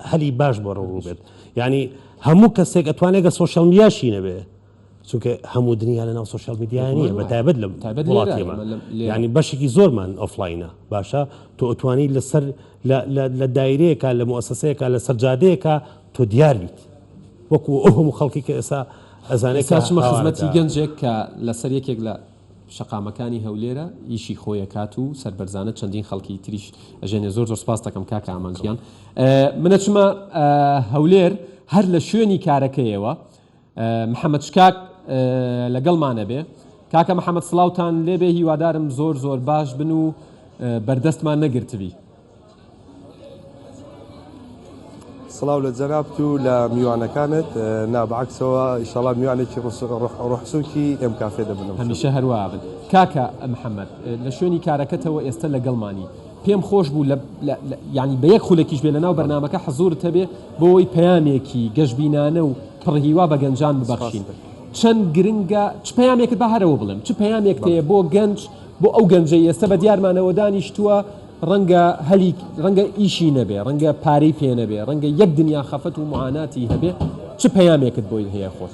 هەلی باش بۆ ڕوو بێت یانی هەموو کەسێک ئەتوانێت گە سۆشیال میاشی نەبێ چونکە هەموو دنیا لە ناو سۆشیال میدیای نیە بە تایبەت لە تایبەت وڵاتێمە ینی بەشێکی زۆرمان ئۆفلاینە باشە تۆ ئەتوانی لەسەر لە دایرەیەکە لە موسسەیەکە لەسەر جادەیەکە تۆ دیار بیت وەکو ئەو هەموو خەڵکی کە ئێستا ئەزانێت کە ئێستا چمە خزمەتی هاوارەکە. گەنجێک کە لەسەر یەکێک لە شەقامەکانی هەولێرە ئیشی خۆی ئەکات و سەربەرزانە چەندین خەڵکی تریش ئەژێنێ زۆر زۆر سپاست ئەکەم کاکە ئامانج گیان من ئەچمە هەولێر هەر لە شوێنی کارەکەیەوە محمد شکاک لەگەڵمانەبێ. کاکە محمد سڵاوتان لێبێ هیوادارم زۆر زۆر باش بن و بەردەستمان نەگرتبی. سڵاو لە جەنابت و لە میوانەکانت نا بە عەکسەوە ئیشەڵا میوانێکی ڕوحسوکی ئێم کافێ دەبنەوە. هەمیشە هەروا بن کاکە محمد. لە شوێنی کارەکەتەوە ئێستە لەگەڵمانی. پێم خۆش بوو لە یانی بە یەک خولەکیش بێ لەناو بەرنامەکە حزوورت هەبێ بۆ وەی پەیامێکی گەشبینانە و پڕ هیوا بە گەنجان ببەخشین چەند گرنگە چ پەیامێکت با هەرەوە بڵێم چ پەیامێک تەیە بۆ گەنج بۆ ئەو گەنجەی ئێستا بە دیارمانەوە دانیشتووە ڕەنگە هەلی ڕەنگە ئیشی نەبێ ڕەنگە پارەی پێ نەبێ ڕەنگە یەک دنیا خەفەت و معاناتی هەبێ چ پەیامێکت بۆی هەیە خۆت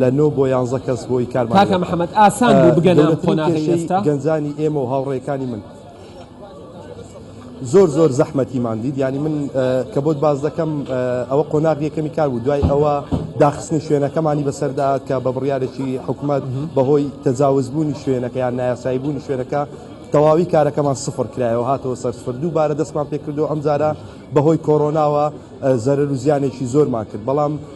لە نۆ بۆ یانزە کەس بۆی کارمان لەگەڵ کاکە بکەن. محمد ئاسان بوو بگەنە ئەم گەورەترین قۆناغەی کێشەی ئێستا؟ گەنجانی ئێمە و هاوڕێکانی من زۆر زۆر زەحمەتیمان دیت یانی من کە بۆت باس دەکەم ئەوە قۆناغی یەکەمی کار بوو دوای ئەوە داخستنی شوێنەکەمانی بەسەردا کە بە بڕیارێکی حکومەت بەهۆی تەجاوز بوونی شوێنەکە یان نایاسایی بوونی شوێنەکە تەواوی کارەکەمان سفر کرایەوە هاتەوە سەر سفر دووبارە دەستمان پێکردو ئەمجارە بەهۆی کۆرۆناوە زەرەرو زیانێکی زۆرمان کرد بەڵام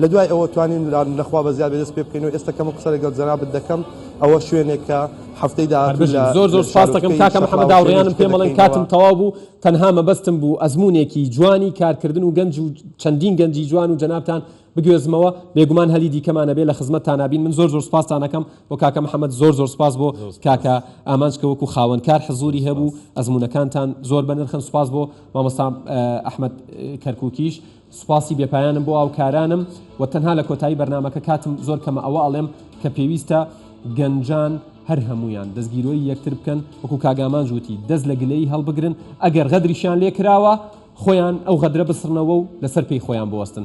لە دوای ئەوە توانیم لە خوا بەزیاد بێ دەست پێ بکەین و ئێستا کەمە قسە لەگەڵ جەنابت دەکەم ئەوە شوێنێک کە هەفتەی داهاتوو لە شارۆچکەی شەقڵاوە شێری شتێ دەکەینەوە. هەر بژی، زۆر زۆر سوپاس دەکەم کاکە محمد هاوڕێیانم پێم بڵێن کاتم تەواو بوو تەنها مەبەستم بوو ئەزموونێکی جوانی کارکردن و گەنج و چەندین گەنجی جوان و جەنابتان بگوێزمەوە بێگومان هەلی دیکەمان ئەبێ لە خزمەتتانا بین من زۆر زۆر سوپاستان ئەکەم بۆ کاکە محمد زۆر زۆر سوپاس بۆ کاکە ئامانج کە وەکو خاوەن کار حزووری هەبوو ئەزموونەکانتان زۆر بەنرخن سوپاس بۆ مامۆستا ئەحمەد کەرکووکیش سوپاسی بێ پایانم بۆ هاوکارانم وە تەنها لە کۆتایی بەرنامەکە کاتم زۆر کەمە ئەوە ئەڵێم کە پێویستە گەنجان هەر هەموویان دەستگیرۆی یەکتر بکەن وەکو کاک ئامانج وتی دەست لە گلەیی هەڵبگرن ئەگەر غەدریشیان لێ کراوە خۆیان ئەو غەدرە بسڕنەوە و لەسەر پێی خۆیان بوەستن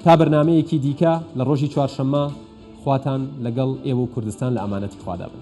تا بەرنامەیەکی دیکە لە ڕۆژی چوارشەممە خواتان لەگەڵ ئێوە و کوردستان لە ئەمانەتی خوادا بن.